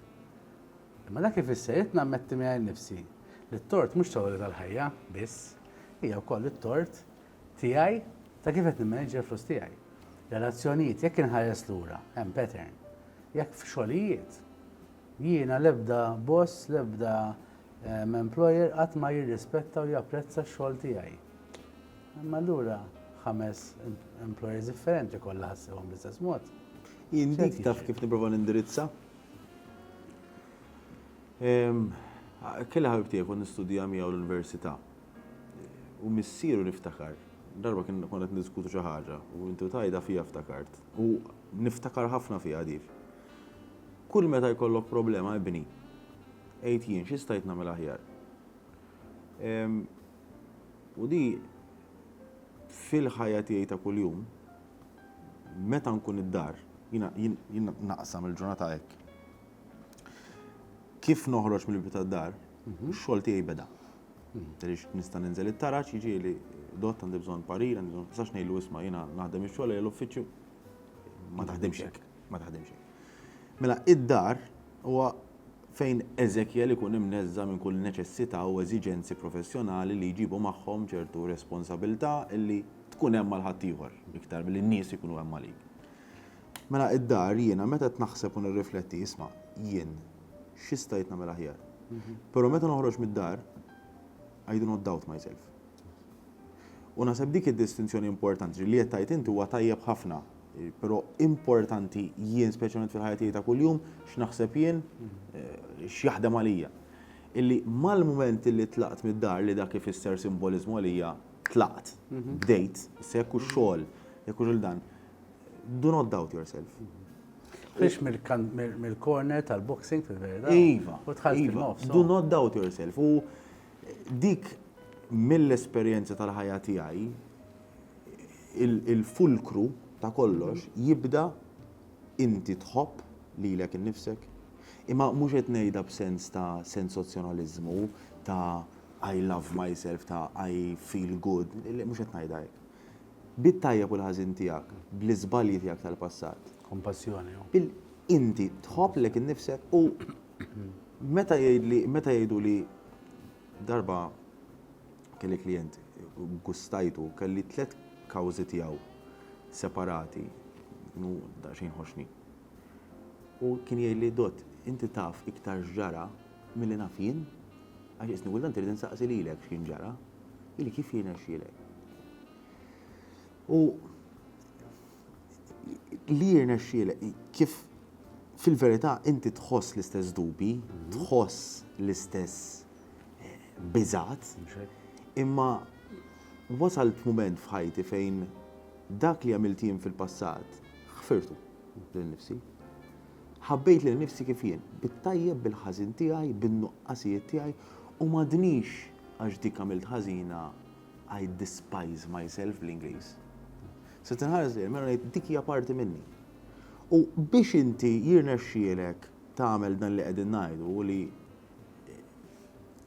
Imma dak ifisser qed nammetti minn nifsi li t-tort mhux tal-loli tal-ħajja biss, hija wkoll it-tort Tiegħi, ta' kif qed nimmaneġġja l-flus tiegħi. Relazzjonijiet, jekk inħares lura, hemm pattern. Jekk f'xogħlijiet, jiena l-ebda boss, l-ebda ehm, employer qatt ma jirrispetta u japprezza x-xogħol tiegħi. Imma allura ħames employers differenti kollha ħassewhom bl-istess mod. Jindik taf kif nipprova nindirizza? Kelli ħabib tiegħi kont nistudja miegħu l-università. U missieru niftakar. Darba kien kont qed niddiskutu xi ħaġa u intu tajda fija ftakart. U niftakar ħafna fija dif. Kull meta jkollok problema ibni, għid jien x'istajt nagħmel aħjar. U di fil-ħajja tiegħi ta' kuljum, meta nkun id-dar, jiena naqsam il-ġurnata hekk. Kif noħroġ mill-bieb tad-dar, ix-xogħol tiegħi beda. Għaliex nista' ninżel it-taraġ, jiġieli dott għandi bżonn parir, għandi bżonn sax ngħidlu isma' jiena naħdem ix-xogħol ejja l-uffiċċju. Ma taħdimx hekk, ma taħdimx hekk. Mela id-dar huwa fejn Eżekjel ikun imneżża' minn kull neċessità u eżiġenzi professjonali li jġibu magħhom ċertu responsabilità li tkun hemm għal ħaddieħor iktar milli n-nies ikunu hemm għalik. Mela id-dar jiena meta qed naħseb u nirrifletti isma' jien xi stajt nagħmel aħjar. Però meta noħroġ mid-dar I do not doubt myself. U naħseb dik id-distinzjoni importanti, ġifieri li qed tgħid inti huwa tajjeb ħafna, però importanti jien speċjalment fil-ħajja tiegħi ta' kuljum x'naħseb jien, x'jaħdem għalija. Illi mal-mument illi tlaqt mid-dar li dak ifisser simboliżmu għalija tlaqt, bdejt, issa jekk hux xogħol, jekk hux il-dan, Do not doubt yourself. Biex mill-corner tal-boxing fil-verda. Iva. U tħalli iva. Do not doubt yourself. U dik mill-esperjenza tal-ħajja tiegħi il-fulkru ta' kollox jibda inti tħobb lilek innifsek. Imma mhux qed ngħidha b'sens ta' sensazzjonaliżmu ta' I love myself ta' I feel good, mhux qed ngħidha hekk. Bit-tajjeb u l-ħażin tiegħek, bl-iżbalji tiegħek tal-passat. Kompassjoni, u. Il, inti tħobb lek innifsek u meta jgħidli, meta jgħiduli darba kelli klijent gustajtu, kelli tliet kawżi tiegħu separati, kienu daqsxejn ħoxni. U kien jgħidli, Dott, inti taf iktar x'ġara milli naf jien? Għax isni kultant irid insaqsi lilek x'kien ġara. Ili kif jirnexxielek? U li jirnexxielek kif fil-verità inti tħoss l-istess dubi, mhm. tħoss l-istess eh, biżat, imma wasalt moment f'ħajti fejn dak li għamilt jien fil-passat ħfirtu lil nifsi. Ħabbejt lil nifsi kif jien, bit-tajjeb bil-ħażin tiegħi, bin-nuqqasijiet tiegħi u m'għadnix għax dik għamilt ħażina I despise myself bl-Ingliż. Se tinħares lejn mela ngħid dik hija parti minni. U biex inti jirnexxielek tagħmel dan li qegħdin ngħidu u li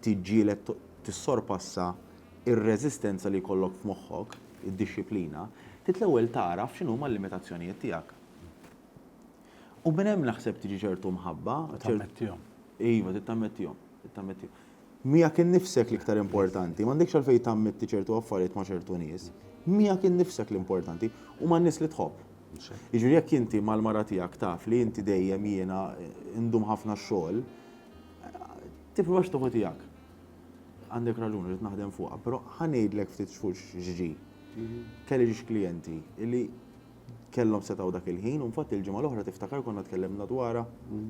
tiġġieled tissorpassa ir-reżistenza li jkollok f'moħħok, id-dixxiplina, trid l-ewwel tagħraf x'inhuma l-limitazzjonijiet tiegħek. U minn hemm naħseb tiġi ċertu mħabba. Tammettihom. Iva, tittammettihom. Tittammettihom. Miegħek innifsek l-iktar importanti. M'għandekx għalfejn tammetti ċertu affarijiet ma' ċertu nies. Miegħek innifsek l-importanti u man-nies li tħobb. Jiġifieri jekk inti mal-mara tiegħek taf li inti dejjem jiena ndum ħafna x-xogħol, tipprovax tieħu tiegħek. Għandek raġun, rrid naħdem fuqha, però ħa ngħidlek ftit xhur x'ġri. Kelli xi klijenti li kellhom setgħu dak il-ħin u nfatt il-ġimgħa l-oħra tiftakar konna tkellimna dwarha,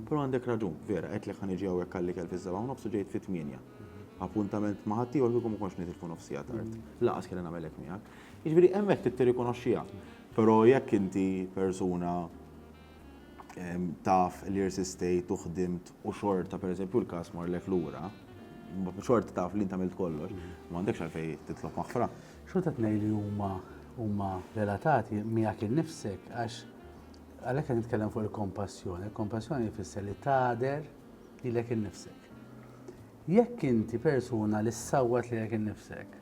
però għandek raġun, vera, għedtlek ħa niġi hawnhekk għall-ikel fis-sebgħa u nofs u ġejt fit-tmienja. Appuntament ma' ħaddieħor kieku ma kontx nitilfu nofs siegħa tard. Lanqas kelli nagħmel hekk miegħek. Jiġifieri hemmhekk trid tirrikonoxxiha. Però jekk inti persuna taf li irsistejt u ħdimt u xorta pereżempju l-każ marlek lura, xorta taf li int għamilt kollox, m'għandekx għalfejn titlob maħfra. Xorta tnej li huma huma relatati miegħek innifsek għax għalhekk qed nitkellem fuq il-kompassjoni. Il-kompassjoni jfisser li tader lilek innifsek. Jekk inti persuna li ssawwat lilek innifsek,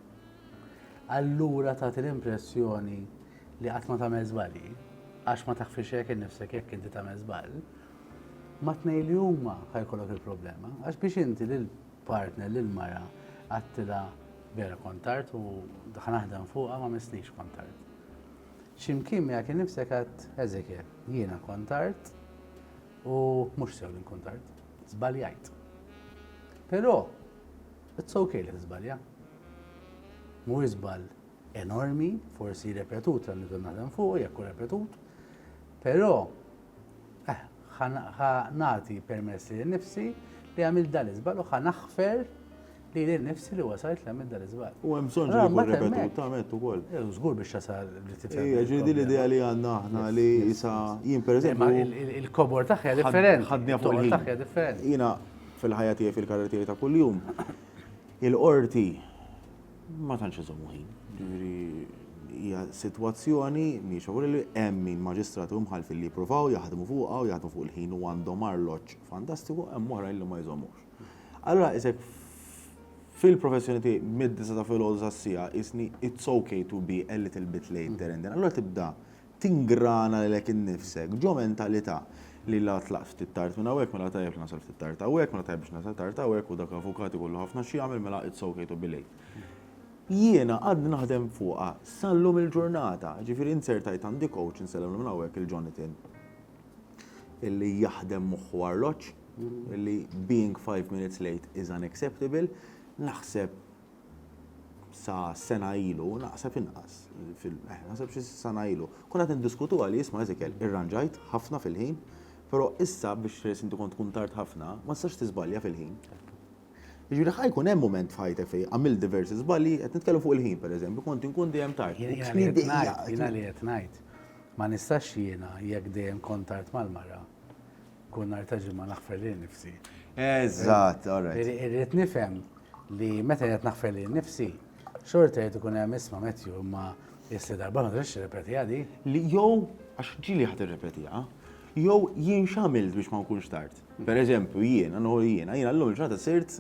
allura tagħti l-impressjoni li qatt ma tagħmel żbalji, għax ma taħfix hekk innifsek jekk inti tagħmel żball, ma tnej li huma ħajkollok il-problema. Għax biex inti lil partner lil mara għadtilha vera kont tard u daħal naħdem fuqha ma missnix kont tard. X'imkien miegħek innifsek għad Ezekiel, jiena kont tard u mhux sew li nkun tard. Żbaljajt. Però it's okay li tiżbalja. Mu żball enormi, forsi repetut għal nibda naħdem fuq, jekk repetut, però Eh, ħa nagħti permess li nifsi li għamil dal-iżbal u ħa naħfer li li nifsi li wasajt li għamil dal-iżbal. U hemm bżonn li jkun repetut, tamet ukoll. Eh, żgur biex jasal li tifhem. Ija, eh, ġidi l-idea li għandna aħna li jisa jien pereżempju. Eh, il-kobor taħja differenti. Ħadni fuq il taħja differenti. Jiena fil-ħajja tiegħi fil-karrieri ta' kuljum. Il-qorti Ma tantx iżommu ħin. Jiġifieri hija sitwazzjoni mhijiex favorevoli, hemm min maġistrati u mħallfin li jippruvaw jaħdmu fuqha u jaħdmu fuq il-ħin u għandhom arloġġ fantastiku, hemm oħrajn li ma jżommux. Allura qisek fil-professjoni tiegħi mid-disa' ta' filgħodu sas-siegħa qisni it's ok to be a little bit late there and then. Allura tibda tingrana lilek innifsek ġo mentalità li la tlaqt ftit tard minn hawnhekk mela tajjeb li nasal ftit tard hawnhekk, mela tajjeb biex nasal tard hawnhekk u dak l-avukat ikollu ħafna x'jagħmel mela it's ok to be late. Jiena għadt naħdem fuqha sal-lum il-ġurnata, ġifieri inzertajt għandi coach, insellem minn hawnhekk 'il Jonathan, illi jaħdem moħħ u arloġġ, illi being five minutes late is unacceptable, naħseb, sa sena ilu, naqseb inqas, eh, naqseb xi sena ilu, kun qed niddiskutuha li jisma' Ezekiel, irranġajt ħafna fil-ħin, però issa biex inti kont tkun tard ħafna, ma tistax tiżbalja fil-ħin. Jiġifieri ħa jkun hemm mument f'ħajtek fejn għamilt diversi żbalji, qed nitkellem fuq il-ħin pereżempju, kont inkun dejjem tard. Jiena li qed ngħid, jiena li qed ngħid, ma nistax jiena jekk dejjem kont tard mal-mara, Kull nhar ta' ġimgħa naħfer lil nifsi. Eżatt, alright. Irri- Irrid nifhem li meta qed naħfer lil nifsi, xorta qed ikun hemm isma' Matthew imma issa darba ma tridx tirrepeti għadi. Li jew, għax ġili ħat irrepetiha, jew jien x'għamilt biex ma nkunx tard. Per eżempju, jiena, nħu jiena, jiena l-lum ġata sirt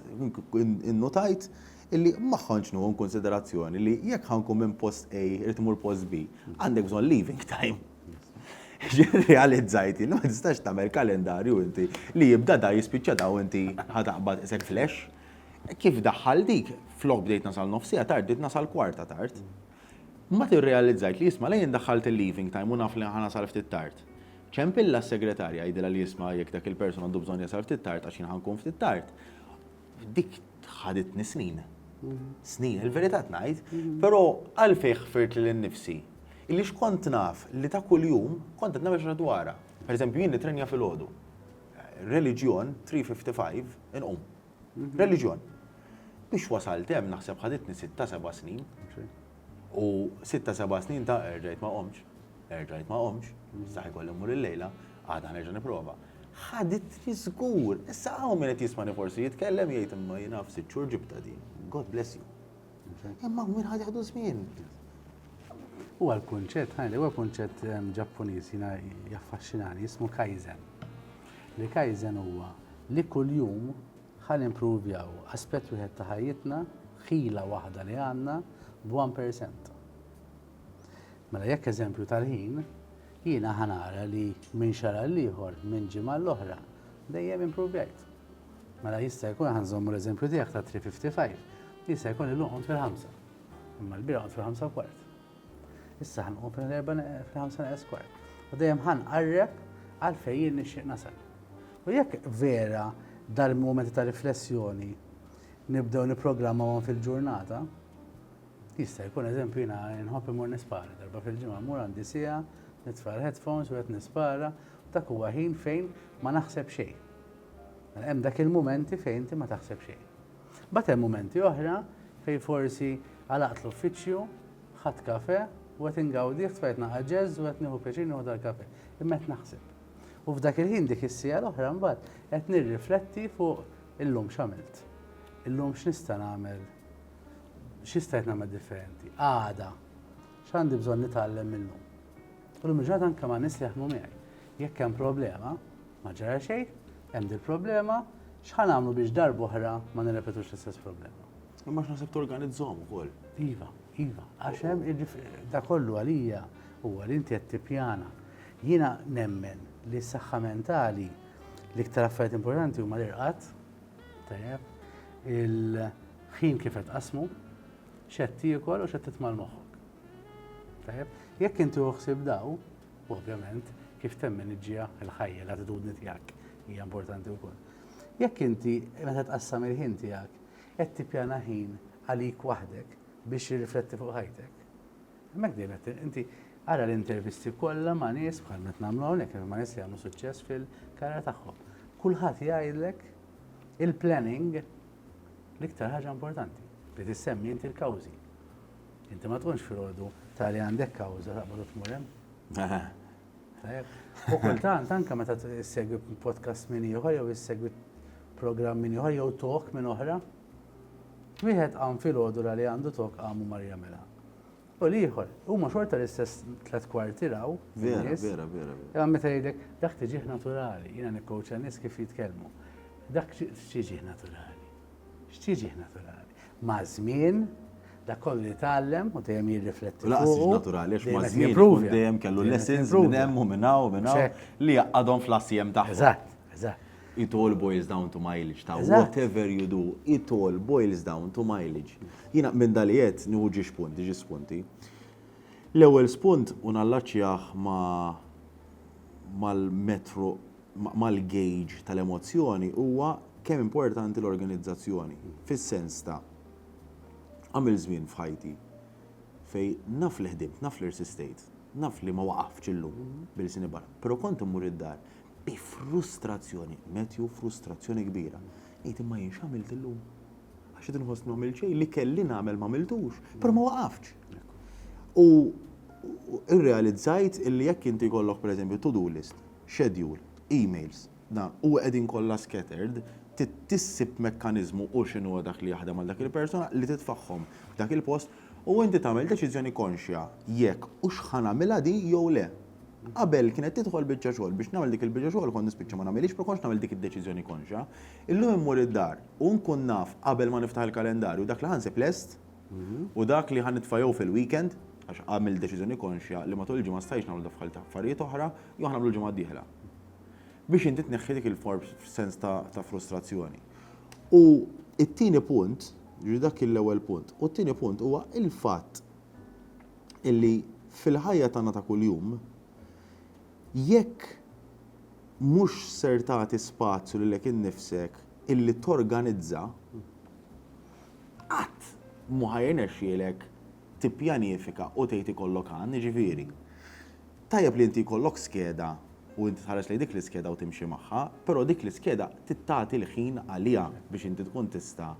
in- innotajt illi ma ħanx nħu in konsiderazzjoni li jekk ħankun minn post A irid imur post B, għandek bżonn leaving time. Realizzajt li ma tistax tagħmel kalendarju inti li jibda da jispiċċa da u inti ħataqbad isek flash. Kif daħħal dik, flok bdejt nasal nofsija tard, bdejt nasal kwarta tard. Ma tirrealizzajt li jisma' lejn daħħalt il-leaving time u naf li ħanasal ftit tard. Ċempilla s-segretarja jgħidilha li jisma' jekk dak il-person għandu bżonn jasal ftit tard għax jien ħankun ftit tard. Dik ħaditni snin. Snin, il-verità tnajt, però għalfej ħfirt li l-nifsi. Illi xkont naf li ta' kull jum kont għadna biex dwara. Per eżempju, jien nitrenja fil-ħodu. Religjon 355 inqum. Religjon. Biex wasalt hemm naħseb ħaditni 6-7 snin. U sitta seba' snin ta' erġajt ma qomtx, erġajt ma qomtx, saħ ikolli mmur illejla, għada nerġa' nipprova. Ħaditni żgur! Issa hawn min qed jismani forsi jitkellem jgħid imma jiena f'sitt xhur ġibtha din. God bless you. Imma hawn min ħa jieħdu żmien. Huwa l-kunċett, ħa ngħidlek, huwa kunċett ehm, Ġappuniż jiena jaffaxxinani, jismu kaizen. Li kaizen huwa li kuljum Ħa nimpruvjaw aspett wieħed ta' ħajjitna, ħila waħda li għandna, b'one percent. Mela jekk eżempju tal-ħin, jiena ħa nara li minn xahar għall-ieħor, minn ġimgħa għall-oħra, dejjem impruvjajt. Mela jista' jkun ħa nżommu l-eżempju tiegħek tat-3:55, jista' jkun illum qomt fil-ħamsa, imma l-bieraħ qomt fil-ħamsa u kwart. Issa ħanqum fil-erba fil-ħamsa naqas kwart. U dejjem ħanqarreb għal fejn jien nixtieq nasal. U jekk vera dal-momenti ta' riflessjoni nibdew niprogrammawhom fil-ġurnata, jista' jkun eżempju jiena nħobb imur nispara darba fil-ġimgħa mur għandi sija, nitfa' l-headphones u qed nispara, dak huwa ħin fejn ma naħseb xejn. Mela hemm dak il-mumenti fejn inti ma taħseb xejn. Mbagħad hemm mumenti oħra fejn forsi għalaqt l-uffiċċju, ħadt kafè u qed ingawdih, tfajjt naqra jazz u qed nieħu pjaċir nieħu dal-kafè, imma qed naħseb. U f'dak il-ħin dik is-siegħa l-oħra mbagħad qed nirrifletti fuq illum x'għamilt. Illum x'nista' nagħmel, x'istajt nagħmel differenti. Għada, x'għandi bżonn nitgħallem minn illum. U l ġurnata anke ma' nies li jaħdmu miegħi. Jekk hemm problema, ma ġara xejn, hemm din problema, x'ħa nagħmlu biex darba oħra ma nirrepetux l-istess problema. Imma x'naħseb torganizzhom ukoll. Iva, iva, għax hemm da kollu għalija huwa li inti qed tippjana. Jiena nemmen li s-saħħa mentali l-iktar affarijiet importanti huma l-irqad, tajjeb, il-ħin kif qed qasmu, x'qed tiekol u x'qed titma' l-moħħok. Tajjeb, jekk inti uħsib daw, ovvjament, kif temmen iġġija l-ħajja, l-attitudni tiegħek hija importanti wkoll. Jekk inti meta tqassam il-ħin tiegħek qed tippjana ħin għalik waħdek biex jirrifletti fuq ħajtek. Hemmhekk dejjem qed inti ara l-intervisti kollha ma' nies bħal meta nagħmlu hawnhekk ma' nies li jagħmlu suċċess fil-karriera tagħhom. Kulħadd jgħidlek il-planning l-iktar ħaġa importanti li tissemmi inti l-kawżi. Inti ma tkunx filgħodu ta' li għandek kawża taqbad u tmur hemm. U kultant anke meta issegwi podcast minn ieħor jew issegwi programm minn ieħor jew tok minn oħra. Wieħed qam filgħodu li għandu tok qamu mar jagħmilha. U l-ieħor, huma xorta l-istess tlet kwarti raw. Vera, vera, vera. Imma meta jgħidlek dak tiġih naturali, jiena nikkowċa nies kif jitkellmu. Dak tiġih naturali. X'tiġih naturali? Maż-żmien, dak kollu li tgħallem u dejjem jirrifletti fuq. Laqas tiġi naturali għax maż-żmien ikun dejjem kellu lessons minn hemm u minn hawn u minn hawn li jgħaqqadhom fl-assiem tagħhom. Eżatt, eżatt. It all boils down to mileage ta' whatever you do, it all boils down to mileage. Jiena minn dan li għedt nieħu ġiex punti, ġiex spunti. L-ewwel spunt u nallaċċjah ma' mal-metru mal-gauge tal-emozzjoni huwa kemm importanti l-organizzazzjoni, fis-sens ta' għamilt żmien f'ħajti fejn naf li ħdimt, naf li rsistejt, naf li ma waqaftx illum b'ilsieni barra, però kont immur id-dar bi frustrazzjoni, metju frustrazzjoni kbira, ngħid imma jien x'għamilt illum? Għax qed inħossni ma għamilt xejn, li kelli nagħmel ma għamiltux, però ma waqaftx. U irrealizzajt illi jekk inti jkollok pereżempju to-do list, schedule, emails, dan, u qegħdin kollha scattered, tissib mekkaniżmu u x'inhu huwa dak li jaħdem għal dak il-persuna li titfagħhom f'dak il-post u inti tagħmel deċiżjoni konxja jekk hux ħa nagħmilha di jew le. Qabel kienet tidħol biċċa xogħol, biex nagħmel dik il-biċċa xogħol kont nispiċċa ma nagħmilhiex, ma kontx nagħmel dik id-deċiżjoni konxja. Illum immur id-dar u nkun naf qabel ma niftaħ il-kalendarju dak li ħa nsib lest. u dak li ħa nitfa' jew fil-weekend, għax għamilt deċiżjoni konxja li matul il-ġimgħa ma stajtx nagħmel daffħal ta' affarijiet oħra, jew ħa nagħmlu l-ġimgħa d-dieħla. Biex inti tneħħi dik il-form sens ta' frustrazzjoni. U t-tieni punt, jiġifieri dak kien l-ewwel punt, u t-tieni punt huwa l-fatt illi fil-ħajja tagħna ta' kuljum jekk mhux ser tagħti spazju lilek innifsek illi torganizza, Qatt mhu ħa jirnexxielek tippjanifika u tgħid ikollok għan, jiġifieri, tajjeb li inti jkollok skeda u inti tħares lejn dik l-iskeda u timxi magħha, però dik l-iskeda trid tagħti l-ħin għaliha biex inti tkun tista'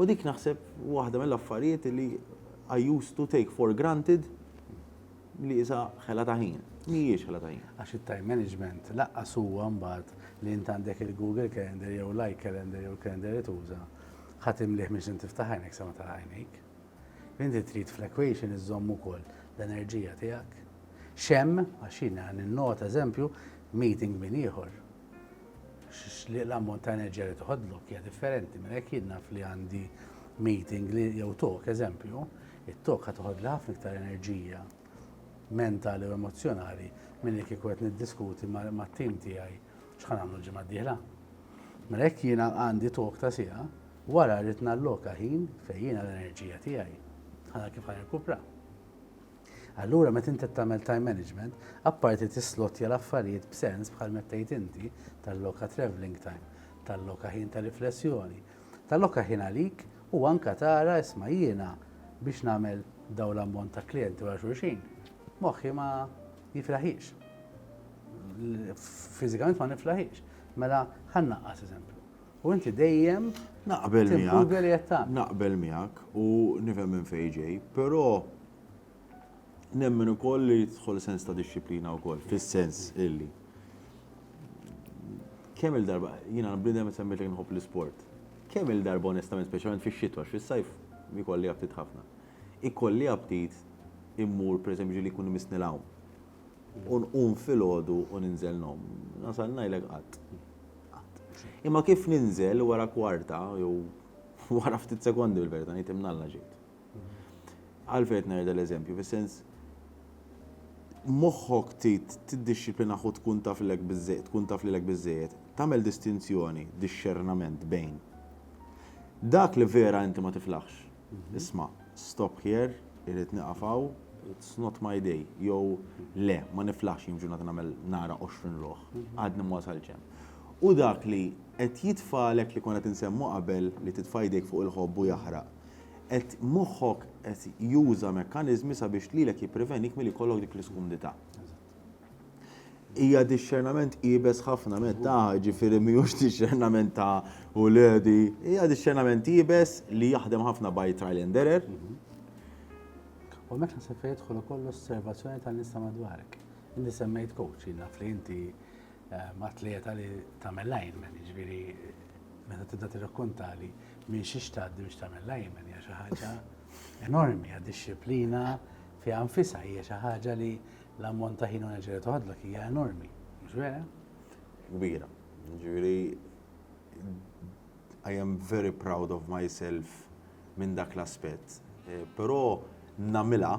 U dik naħseb waħda mill-affarijiet li I used to take for granted. li isa ħela ta' ħin. Mhijiex ħela ta' ħin. Għax it-time management laqqas huwa mbagħad li int għandek il-Google Calendar jew l-iCalendar jew il-Calendar li tuża, ħa timlieh mhix se tiftaħ għajnek sa ma tagħlaq għajnejk. Inti trid fl-equation iżżomm ukoll l-enerġija tiegħek. X'hemm, għax jiena ninnota eżempju, meeting minn ieħor, l-ammont ta' enerġija li toħodlok hija differenti, minn hekk jien naf li għandi meeting jew talk eżempju, It-tokka toħodli ħafna iktar enerġija mentali u emozzjonali milli kieku qed niddiskuti mat-tim tiegħi x'ħa nagħmlu l-ġimgħa d-dieħla. Mela jekk jiena għandi talk ta' siegħa, wara rrid nalloka ħin fejn jiena l-enerġija tiegħi ħa nara kif ħa nirkupra. Allura meta inti tagħmel time management, apparti tislotja l-affarijiet b'sens bħal meta tgħid inti talloka travelling time, talloka ħin ta' riflessjoni, Talloka ħin għalik u anke tara, isma' jiena biex nagħmel dawn l-ammont ta' klijenti wara xulxin, moħħi ma jiflaħiex. Fiżikament ma niflaħiex. Mela ħa nnaqqas eżempju. U inti dejjem naqbel miegħek. Naqbel miegħek u nifhem minn fejn ġej, però Nemmen ukoll li jidħol sens ta' dixxiplina wkoll, fis-sens illi kemm il-darba, jiena bnidem semmejt li nħobb l-isport. Kemm il-darba onestament, speċjalment fix-xitwa, fis-sajf ikolli aptit ħafna. Ikolli aptit immur pereżempju li jkun imissni l-għawm. U nqum filgħodu u ninżel nom. Nasal ngħidlek qatt. Imma kif ninżel wara kwarta jew wara ftit sekondi bil-verità ngħid imnalla ġejt. Għalfejn qed ngħid dal-eżempju? Fis-sens moħħok trid tiddixxiplina ħu tkun taf lilek biżżej, tkun taf lilek biżżejjed, tagħmel distinzjoni, dixxernament bejn dak li vera inti ma tiflaħx. Isma', stop here, irrid nieqaf hawn, it's not my day, jew le, ma niflaħx jien f'ġurnata nagħmel nara 20 ruħ, għadni ma wasaltx hemm. U dak li qed jitfagħlek li konna qed insemmu qabel li titfa' jdejk fuq il-ħobb u jaħraq. qed moħħok qed juża mekkaniżmi sabiex lilek jipprevenik milli jkollok dik l-iskumdità. Hija dixxernament iebes ħafna meta ġifieri mhijiex dixxernament ta' uledi, hija dixxernament iebes li jaħdem ħafna by trial and error. U meta se jidħol ukoll osservazzjoni tal-nisa madwarek. Inti semmejt coach, naf li inti Atleta li tagħmel lineman, jiġifieri meta tibda tirrakkontali minn xiex tgħaddi biex tagħmel lineman hija xi ħaġa enormi, hija disċiplina fiha nfisha hija xi ħaġa li l-ammont ta' ħin u enerġija toħodlok hija enormi, mhux vera? Kbira. Ġifieri I am very proud of myself minn dak l-aspett. Eh, però namilha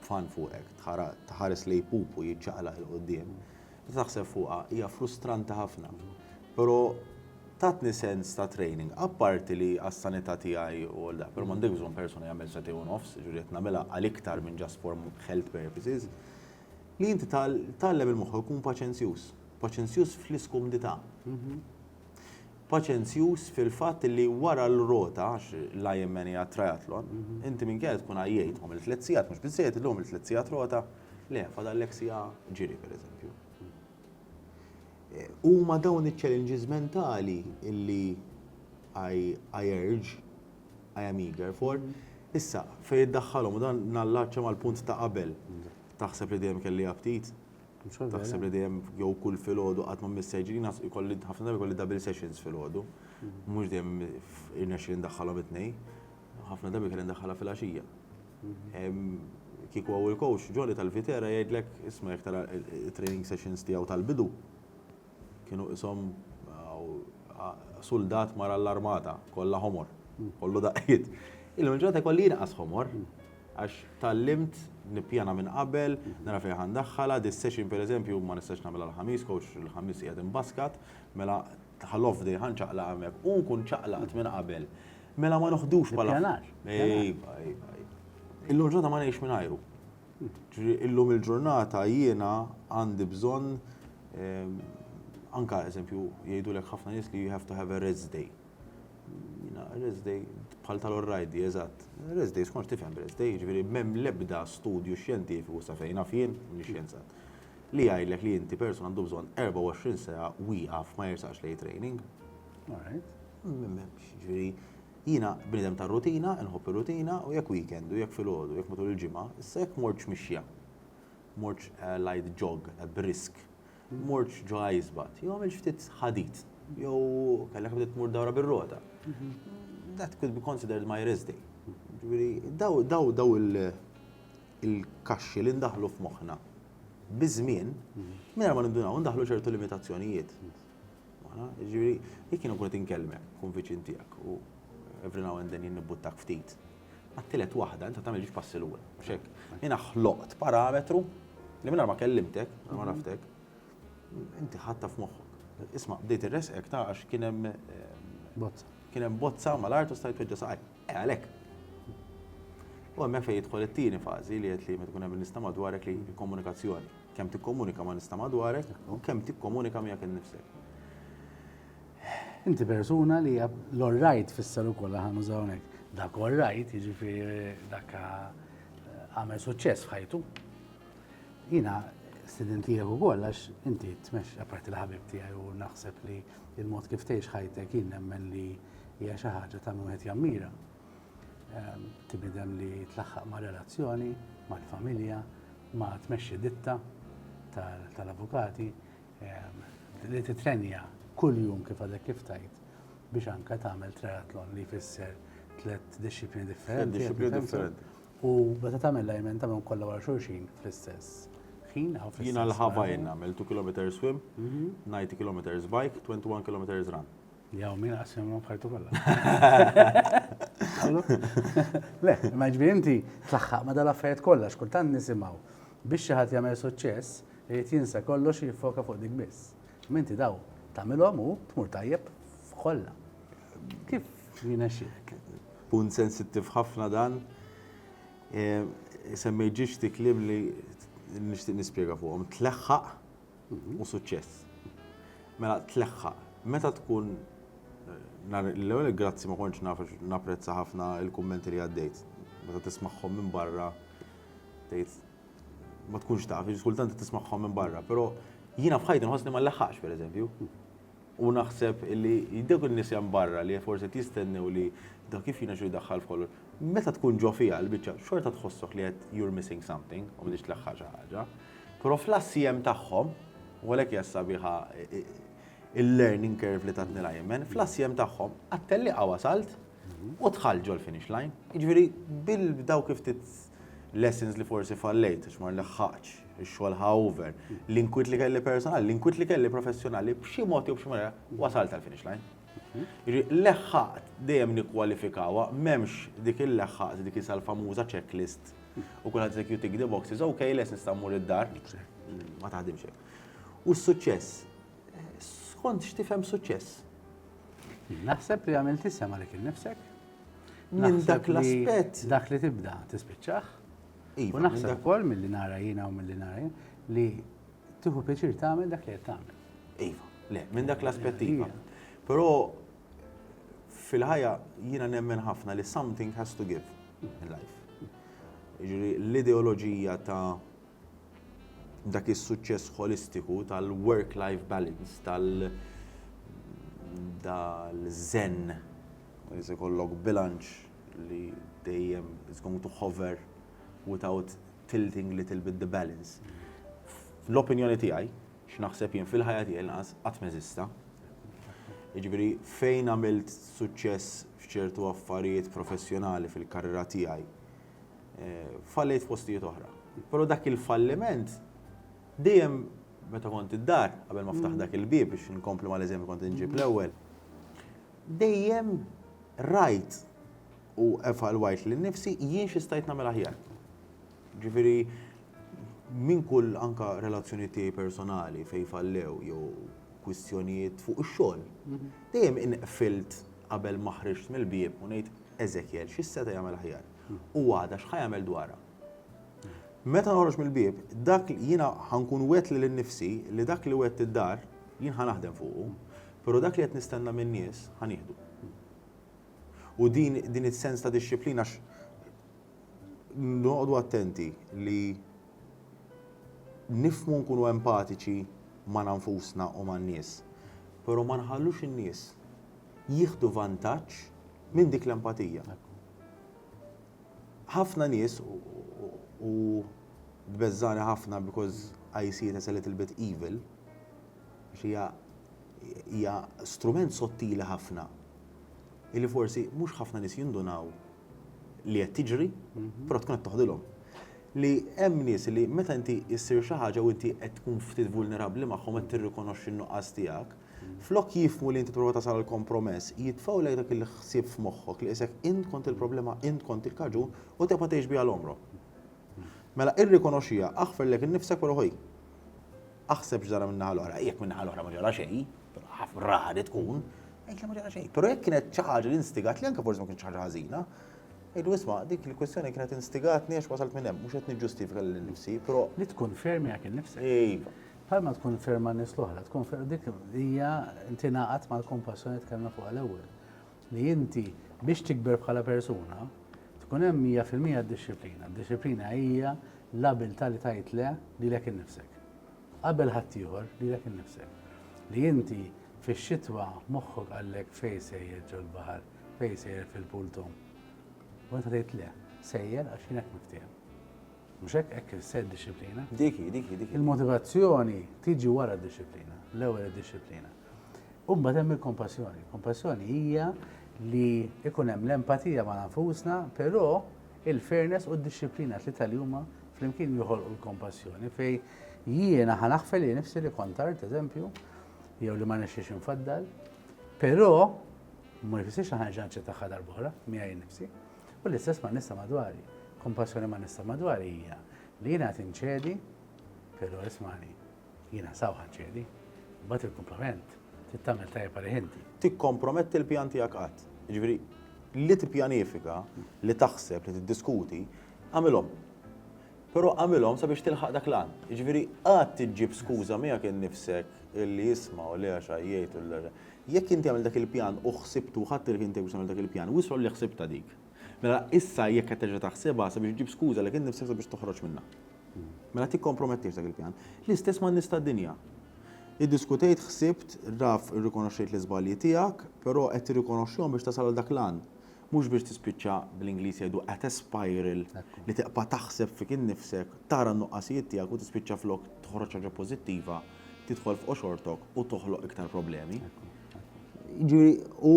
b'fan fuqek, tħares lejn pupu jiċċaqlaq 'il quddiem, meta taħseb fuqha hija frustranti ħafna. Però tatni sens ta' training, apparti li għas-sanità tiegħi u għal dak, però m'għandekx bżonn persuna jagħmel sentejn u nofs, jiġifieri qed nagħmilha għal iktar minn just for health purposes, li inti tgħallem il-moħħok ikun paċenzjuż, paċenzjuż fl-iskumdità. paċenzjuż fil-fatt li wara l-rota, għax l-IMN hija triathlon, inti minkejja li tkun għajjejt u għamilt tliet sigħat, mhux biżżejjed illum għamilt tliet sigħat rota, le, fadallek siegħa ġiri pereżempju. Huma dawn iċ-challenges mentali li I urge, I am eager for. Issa, fejn iddaħħalhom, u dan nallaċċa mal-punt ta' qabel, taħseb li dejjem kelli aptit? Taħseb li dejjem jew kull filgħodu qatt ma mmiss sejġini, naf ikolli ħafna drabi jkolli double sessions filgħodu. Mhux dejjem irnexxieli ndaħħalhom it-tnejn. Ħafna drabi kelli ndaħħalha filgħaxija. Kieku hawn il-coach Jolly tal-Viterra jgħidlek, isma' jekk tara t-training sessions tiegħu tal-bidu, kienu qishom suldat mar għall-armata, kollha ħomor, kollu daqqiet. Illum il-ġurnata jkolli inqas ħomor, Għax tgħallimt nippjana minn qabel, nara fejn ħa ndaħħalha, dis-session pereżempju ma nistax nagħmilha l-Ħamis għax il-Ħamis qiegħed imbaskat, mela ħa l-off day ħa nċaqlaq hemmhekk. U nkun ċaqlaqt minn qabel. Mela ma noħdux bħala. Ippjanar. Iva, iva, iva. Illum il-ġurnata ma ngħixx mingħajru. Ġifieri illum il-ġurnata jiena għandi bżonn anke eżempju jgħidulek ħafna nies li you have to have a rest day. Jiena rest day bħal tal-orrajdi, eżatt. Rest day, skonx tifhem rest day, jiġifieri m'hemm l-ebda studju xjentifiku sa fejn naf jien, m'iniex xjenzat, li jgħidlek li inti person għandu bżonn 24 siegħa wieqaf ma jersaqx lejn training. M'hemmx, jiġifieri jiena bniedem tar-rutina, inħobb ir-rutina u jekk weekend u jekk filgħodu, jekk matul il-ġimgħa, issa jekk mortx mixja, Mortx għajt ġog brisk. Mortx ġo għajsbat. Jew għamiltx ftit ħadid. Jew kellek bdiet tmur dawra bir-rota. That could be considered my rest day. Ġifieri, daw, daw, daw il-kaxxi li ndaħħlu f'moħħna biż-żmien, mingħajr ma nindunaw, ndaħħlu ċertu limitazzjonijiet. Ġifieri, jekk jien nkun qed inkellmek, nkun viċin tiegħek u every now and then jien nibbuttak ftit. Għat-tielet waħda inta tagħmel ġiex passi lura, mhux hekk? Jiena ħloqt parametru li mingħajr ma kellimtek, ma għaraftek, inti ħatta f'moħħok. Isma' bdejt irresqek ta' għax kien hemm bozza. Kien hemm bozza mal-art u stajt weġġa' saqaj. E għalhekk. U hemmhekk fejn jidħol it-tieni fażi li qed li meta tkun hemm nista' madwarek li komunikazzjoni. Kemm tikkomunika ma' nista' madwarek u kemm tikkomunika miegħek innifsek. Inti persuna li hija l-orrajt fisser ukoll li ħan użaw hekk. Dak orrajt, jiġifieri dak għamel suċċess f'ħajtu. Jiena student tiegħek ukoll għax inti tmexx apparti l-ħabib tiegħi u naħseb li il-mod kif tgħix ħajtek jien nemmen li hija xi ħaġa ta' wieħed jammira. Ehm, Tibidem li tlaħħaq ma' relazzjoni, mal-familja, ma' tmexxi ditta tal-avukati, li titrenja kuljum kif għadek kif tajt biex anka tagħmel triathlon li jfisser tliet disċiplini differenti. Disċiplini differenti. U meta tagħmel lajmen tagħmel kollha wara xulxin fl-istess ħin aw fl-istess. Jiena l-ħabajn għamel 2 km swim, 90 mhm. km bike, 21 km run. Jaw, min għasem ma bħajtu kolla. Le, ma ġbi inti tlaħħaq ma dal-affarijiet kollha x'kultant nisimgħu biex xi ħadd jagħmel suċċess irid jinsa kollox jiffoka fuq dik biss. Minti daw tagħmilhom u tmur tajjeb f'kollha. Kif jiena xieħek? Punt sensittiv ħafna dan. E, Semmejġiġ tiklim li nixtieq nispjega fuqhom. Tleħħaq u suċċess. Mela tleħħa, meta tkun l-ewwel grazzi ma kontx naf napprezza ħafna l-kummenti li għaddejt. Meta tismagħhom minn barra tgħid ma tkunx taf, kultant tismagħhom minn barra, però jiena f'ħajti nħossni ma nleħħaqx pereżempju. U naħseb li dawk in-nies hemm barra li forsi qed jistennew li dak kif jirnexxilu jdaħħal f'kollox, meta tkun ġo fiha l-biċċa, xorta tħossok li qed you're missing something u m'intix tlaħħaq xi ħaġa. Però fl-ACM tagħhom, u għalhekk hija sabiħa il-learning curve li tatni l-AMN, fl-ACM tagħhom, għat-tellieqa wasalt, u dħalt ġol-finish line. Jiġifieri bil-dawk ftit lessons li forsi fallejt, għax ma laħħaqtx, ix-xogħol ħa over, l-inkwiet li kelli personali, l-inkwiet li kelli professjonali, b'xi mod jew b'xi mod ieħor, wasalt għall-finish line. Jiġifieri leħħaqt dejjem nikkwalifikawha, m'hemmx dik il-leħħaqt, dik issa l-famuża checklist u kulħadd jgħidlek you tick the boxes, ok, lest nista' mmur id-dar, ma taħdimx hekk. U s-suċċess? Skont x'tifhem suċċess? Naħseb li għamilt isem għalik innifsek. Minn dak l-aspett. Dak li tibda tispiċċaħ. Iva, u naħseb ukoll milli nara jiena u milli nara li tieħu pjaċir tagħmel dak li qed tagħmel. Iva, le, minn dak l-aspett iva. iva. Però fil-ħajja jiena nemmen ħafna li something has to give in life. Ġiri, l-ideoloġija ta' dak is-suċċess ħolistiku tal-work-life balance, tal dal-zen, li se jkollok bilanċ li dejjem is going to hover without tilting little bit the balance. Fl-opinjoni tiegħi, x'naħseb jien fil-ħajja tiegħi l-inqas qatt m'eżista. Jiġifieri fejn għamilt suċċess f'ċertu affarijiet professjonali fil-karriera tiegħi, fallejt f'postijiet oħra. Però dak il-falliment dejjem meta kont id-dar, qabel ma ftaħ dak il-bieb biex nkompli ma l-eżempju kont inġib l-ewwel, dejjem rajt u evalwajt li nifsi jien xistajt namel aħjar. Ġifiri, minn kull anka relazzjoni tiegħi personali fej fallew jew kwistjonijiet fuq ix-xogħol, mhm. dejjem inqfilt qabel maħriġt mill-bieb u ngħid Eżekjel, xi seta' jagħmel aħjar? U għada, x'ħa jagħmel dwarha? Meta noħroġ mill-bieb, dak jiena ħa nkun wegħedt lil innifsi li dak li wegħedt id-dar jien ħa naħdem fuqu, però dak li qed nistenna min-nies ħa nieħdu. U din din is-sens ta' dixxiplina għax noqogħdu attenti li nifmu nkunu empatiċi ma' nfusna u man-nies, però ma nħallux in-nies jieħdu vantaġġ minn dik l-empatija. Ħafna nies, u tbeżżagħni ħafna because I see it as a little bit evil, għax hija hija strument sottili ħafna illi forsi mhux ħafna nies jindunaw li qed tiġri, mhm. però tkun qed toħdilhom. Li hemm nies li meta inti issir xi ħaġa u inti qed tkun ftit vulnerabbli magħhom qed tirrikonoxxi n-nuqqas tiegħek, Flok jifhmu li int tipprova tasal għal kompromess, jitfgħulek dak il-ħsieb f'moħħok li qisek int kont il-problema, int kont il-kaġun u tibqa' tgħix biha l-għomrok. Mela irrikonoxxiha, aħferlek innifsek però ħej, aħseb x'ġara min-naħa l-oħra, jekk min-naħa l-oħra ma ġara xejn, ħafna rari tkun, għid li ma ġara xejn. Però jekk kienet xi ħaġa li instigat li anke forsi ma kienx ħaġa ħażina, Ejdu isma' dik il-kwistjoni kienet instigatni għax wasalt minn hemm, mhux qed niġġustifika lil nifsi, però. Li tkun fermi għak innifsek. Iva. Bħalma tkun ferm ma' nies l-oħra, tkun ferm dik hija tingħaqad mal-kompassjoni tkellna fuqha l-ewwel. Li inti biex tikber bħala persuna, tkun hemm 100% d-dixxiplina. D-dixxiplina hija l-abilità li tgħid le lilek innifsek. Qabel ħaddieħor lilek innifsek. Li inti fix-xitwa moħħok qallek fejn sejjer ġol-baħar, fejn sejjer fil-pool tom. U inti tgħid le, sejjer għax jien hekk miftiehem. Mhux hekk, hekk issejħ id-dixxiplina. Dik hi, dik hi, dik hi. Il-motivazzjoni tiġi wara d-dixxiplina, l-ewwel id-dixxiplina. U mbagħad hemm il-kompassjoni. Kompassjoni hija li ikun hemm l-empatija ma' nfusna, però il-fairness u d-dixxiplina tlieta li huma flimkien joħolqu l-kompassjoni fej jiena ħa naħfel li nifsi li kont art, eżempju, jew li ma nexxiex infaddal, però ma jfissirx li ħanġa nċettaħħa darb'oħra miegħi nifsi. U l-istess ma' nista madwari. Kompassjoni ma' nista madwari hija li jiena qed inċedi, però ismani, jiena sawħa nċedi, imbagħad il-kumplament trid tagħmel tajjeb għalih inti. Tikkomprometti l-pjan tiegħek qatt. Jiġifieri li tippjanifika, li taħseb, li tiddiskuti, agħmilhom. Però agħmilhom sabiex tilħaq dak l-għan. Jiġifieri qatt iġġib skuża miegħek innifsek illi isma' u le għax għajjejt u le. Jekk inti għamilt dak il-pjan u ħsibtu u ħadt il-ħin tiegħek biex tagħmel dak il-pjan, wissa hu li ħsibtha dik. Mela issa jekk qed terġa' taħsibha sabiex ġġib skuża lek innifsek sabiex toħroġ minnha. Mela tikkompromettiex dak il-pjan. L-istess man-nies tad-dinja. Iddiskutejt, ħsibt, raf irrikonoxxejt l-iżbalji tiegħek, però qed tirrikonoxxihom biex tasal għal dak l-għan. Mhux biex tispiċċa, bl-Ingliż jgħidu qed espiral, li tibqa' taħseb fik innifsek, tara n-nuqqasijiet tiegħek u tispiċċa flok toħroġ xi ħaġa pożittiva, tidħol f'qoxortok u toħloq iktar problemi. Jiġifieri u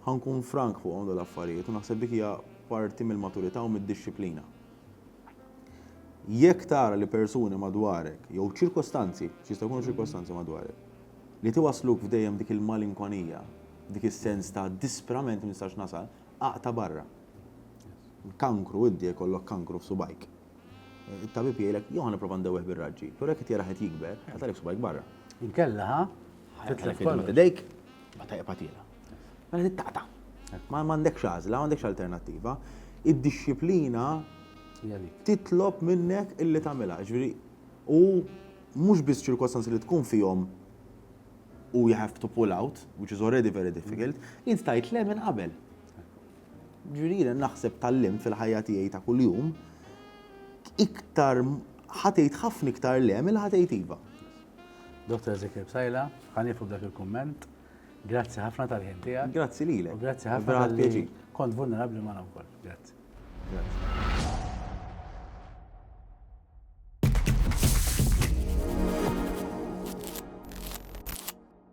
ħankun frank fuqhom dawn l-affarijiet u naħseb dik hija parti mill-maturità u mid-dixxiplina. Jekk tara li persuni madwarek jew ċirkostanzi, x'jista' jkunu ċirkostanzi madwarek, li tiwassluk f'dejjem dik il-malinkonija, dik is-sens ta' disprament ma nistax nasal, aqta' barra. Kankru, inti jekk ikollok kankru f'subgħajk, It-tabib jgħidlek, jew ħa nipprova ndewweh bir-raġġi, però jekk qed jarah qed jikber, ħajqat' għalik subgħajk barra. Inkella, ħa? Ħajqat' għalik fejn tmett idejk, mbagħad ħajqeb għatielha. Mela tittaqta'. Ma għandekx għażla, ma għandekx alternattiva. Id-dixxiplina titlob minnek illi tagħmilha. Jiġifieri, u mhux biss ċirkostanzi li tkun fihom u you have to pull out, which is already very difficult, int tajt le minn qabel. Jiġifieri jiena naħseb tgħallimt fil-ħajja tiegħi ta' kuljum iktar ħa tgħid ħafna iktar le milli ħa tgħid iva. Dottor Ezekiel Psaila, ħa nieqfu b'dak il-kumment. Grazzi ħafna tal-ħin tiegħek. Grazzi lilek. Grazzi ħafna tal-ħin. Kont vulnerabbli ma' wkoll. Grazzi. Grazzi.